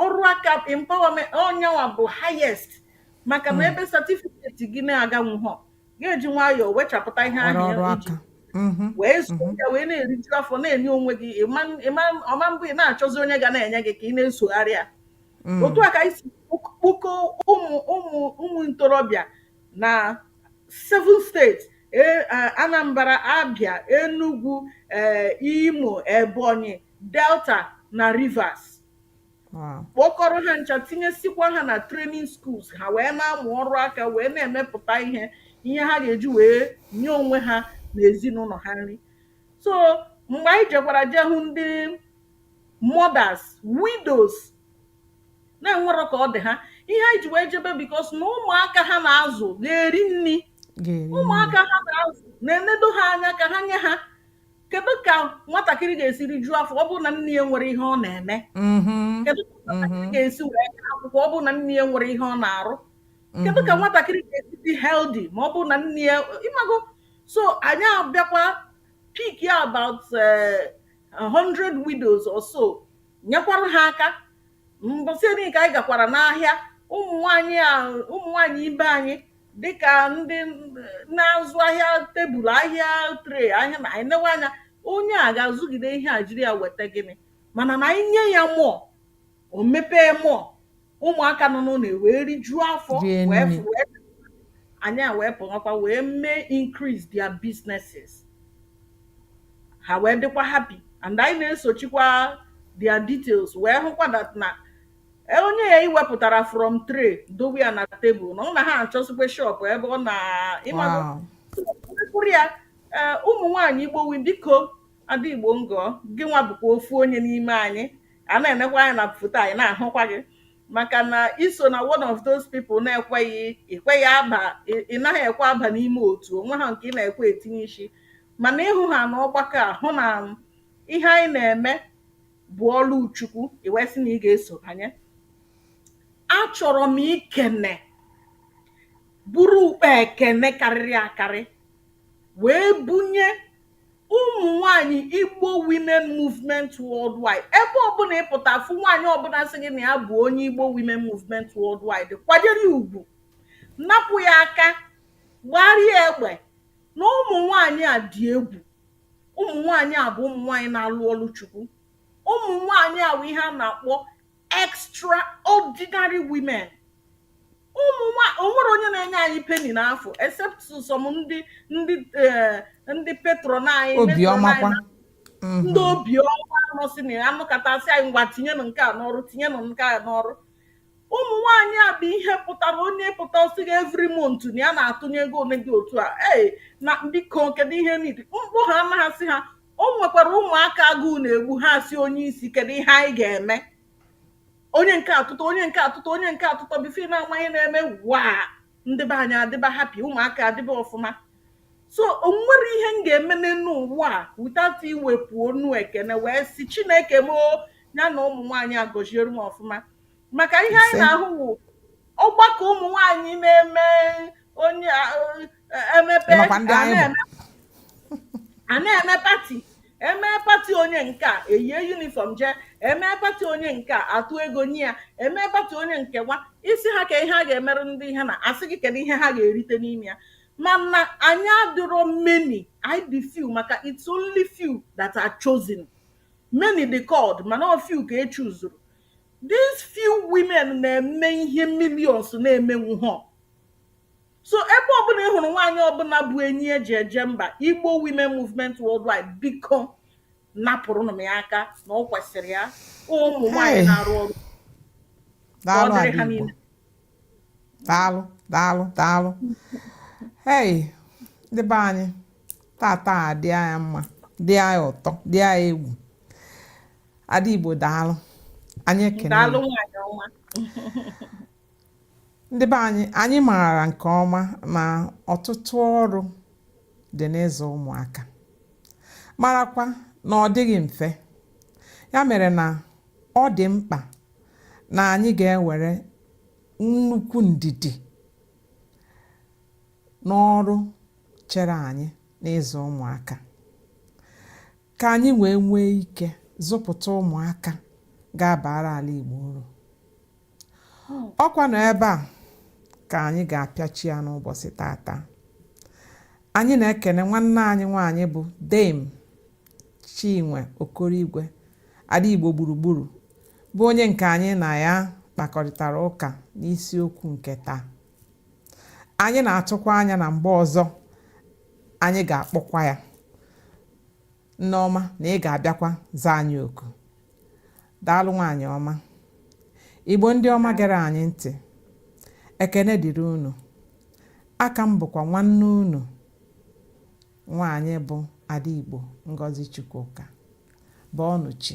ọrụ aka empowerment ọ nya nwa bụ highest maka na ebe satifiketi gị na-aganwụhọ ga-eji nwayọọ wee chapụta ihe ọrụ ahụ ọrụ ya iji aka Mhm, wee zuo mhm. ya wee na-eriju afọ na-enye onwe gị ịma- ịma- ọ ma-abụ ị na-achọzi onye ga na-enye gị ka ị na-esogharị ya Mm, otu a ka anyị si kpok- kpokọọ ụmụ ụmụ ụmụ ntorobịa na seven state e- a- anambra abia enugu eh, imo ebonyi delta na rivers kpọkọrọ ha ncha tinyesikwa ha na training schools ha wee na-amụ ọrụ aka wee na-emepụta ihe ihe ha ga-eji wee nye onwe ha na ezinụlọ ha nri so mgbe anyị jekwara jee hụ ndị mothers widows na-enwerọ ka ọ dị ha ihe anyị ji wee jebe because na ụmụaka ha na-azụ ga-eri nri ụmụaka ha na-azụ na-enedo ha anya ka ha nye ha kedu ka nwatakịrị ga-esi rijuo afọ ọ bụrụ na nne ya enwerọ ihe ọ na-eme mm-hmm. kedu ka nwatakịrị mm-hmm. ga-esi wee gaa akwụkwọ ọ bụrụ na nne ya enwerọ ihe ọ na-arụ kedu ka mm-hmm. nwatakịrị ga-esi dị healthy ma ọ bụrụ na nne ya ị mago so anyị abịakwa pickia about 100 eh, widows or so nyekwara ha aka mbọsị eri ka anyị gakwara n'ahịa ụmụ nwanyị a ụmụ nwanyị ibe anyị dịka ndị na-azụ ahịa table ahịa tray ahịa na i newe anya onye a ga-azụgide ihe a jiri ya weta gịnị mana na i nye ya more o mepee more ụmụaka nọ n'ụlọ wee rijuo afọ anyị ewee pụọkwa wee mee increase their businesses ha wee dịkwa happy and anyị na-esochikwa their details wee hụkwa that na e, onye a i wepụtara from tray dowe ya na table na ọ na ha achọsikwa shop ebe ọ na ịmagụrụ ya e, ụmụ nwaanyị igbo wi biko ada igbo ngọ gị nwa bụkwa ofu onye n'ime anyị a na-enekwa anya na foto anyị na-ahụkwa gị maka na i so na one of those people na-ekweghị i kweghị aba ị naghị ekwe aba n'ime otu o nwehọ nke ị na-ekwe etinye isi mana ị hụ ha na ọgbakọ a hụ na ihe anyị na-eme bụ ọrụ Chukwu i kwesị na ị ga-eso banye achọrọ m ikene buru ụkpa ekene karịrị akarị wee bunye ụmụ nwaanyị igbo women movement worldwide ebe ọbụla ị pụta fụ nwaanyị ọbụla sị gị na ya bụ onye igbo women movement worldwide kwanyere ya ugwu napụ ya aka gbara ya egbe na ụmụ nwaanyị a dị egwu ụmụ nwaanyị a bụ ụmụ nwaanyị na-alụ ọlụ chukwu ụmụ nwaanyị a bụ ihe a na-akpọ extraordinary women ụmụ nwa o nwere onye na-enye anyị penny n'afọ except some ndị ndị eh, ndị patron anyị matron obiọma anyị kwa na ndị obiọma nọsị na ya anụkata asị anyị ngwa tinyenụ nke a n'ọrụ tinyenụ nke a n'ọrụ ụmụ nwaanyị a bụ ihe pụtara onye pụta ọ sị gị every month na ya na-atụnye ego ole dị otu a ee na biko kedu ihe ndị mkpa ha anaghị asị ha o nwekwara ụmụaka agụụ na-egbu ha sị onye isi kedu ihe anyị ga-eme onye nke a atụtụ onye nke a atụtụ onye nke a atụtụ before ị na-ama ihe na-eme waa ndị be anyị adịba happy ụmụaka adịba ọfụma so o nwere ihe m ga-eme n'elu ụwa a without iwepụ ọnụ ekene wee sị chineke m o ya na ụmụ nwaanyị a gọziere m ọfụma maka ihe anyị Ise. na-ahụ wụ ọgbakọ ụmụ nwaanyị na-eme onye a- ọ- emepe Ịmakwa ndị a anyị bụ. na-eme a na-eme party eme party onye nke a eyie uniform jee eme party onye nke a atụ ego nye ya eme party onye nke nwa isi ha ka ihe a ga-emere ndị ihe na asị gị kedu ihe ha ga-erite n'ime ya mana anyị adịrọ many anyị dị few maka it's only few that are chosen many dị called mana ọ few ka e chuzuru these few women na-eme ihe millions na-emenwuhọ so ebe ọbụla ị hụrụ nwaanyị ọbụla bụ enyi eji eje mba igbo women movement worldwide biko napụrụnụ m ya aka na ọ kwesịrị ya ụmụ nwaanyị Hey. na-arụ ọrụ ka ọ daalụ dịrị ha Adaigbo niile daalụ daalụ daalụ hei ndị be anyị tata a dị anyị mma dị anyị ụtọ dị anyị egwu Adaigbo daalụ anyị ekene daalụ nwaanyị ọma Ndị be anyị, anyị maara nke ọma na ọtụtụ ọrụ dị n'ịzụ ụmụaka, marakwa na ọ dịghị mfe. Ya mere na ọ dị mkpa na anyị ga-ewere nnukwu ndidi n'ọrụ chere anyị n'ịzụ ụmụaka. ka anyị wee nwee ike zụpụta ụmụaka ga-abara ala Igbo uru ọ kwanụ ebe a ka anyị ga-apịachi ya n'ụbọchị tata anyị na-ekene nwanne anyị nwaanyị bụ Dame Chinwe Okoroigwe Ada Igbo gburugburu bụ onye nke anyị na ya kpakọrịtara ụka n'isiokwu nke taa anyị na-atụkwa anya na mgbe ọzọ anyị ga-akpọkwa ya nneọma na ị ga-abịakwa zaa anyị oku daalụ nwaanyị ọma igbo ndị ọma gere anyị ntị ekene dịrị unu aka m bụkwa nwanne unu nwaanyị bụ ada igbo ngozi chukwuka bụ ọnụchi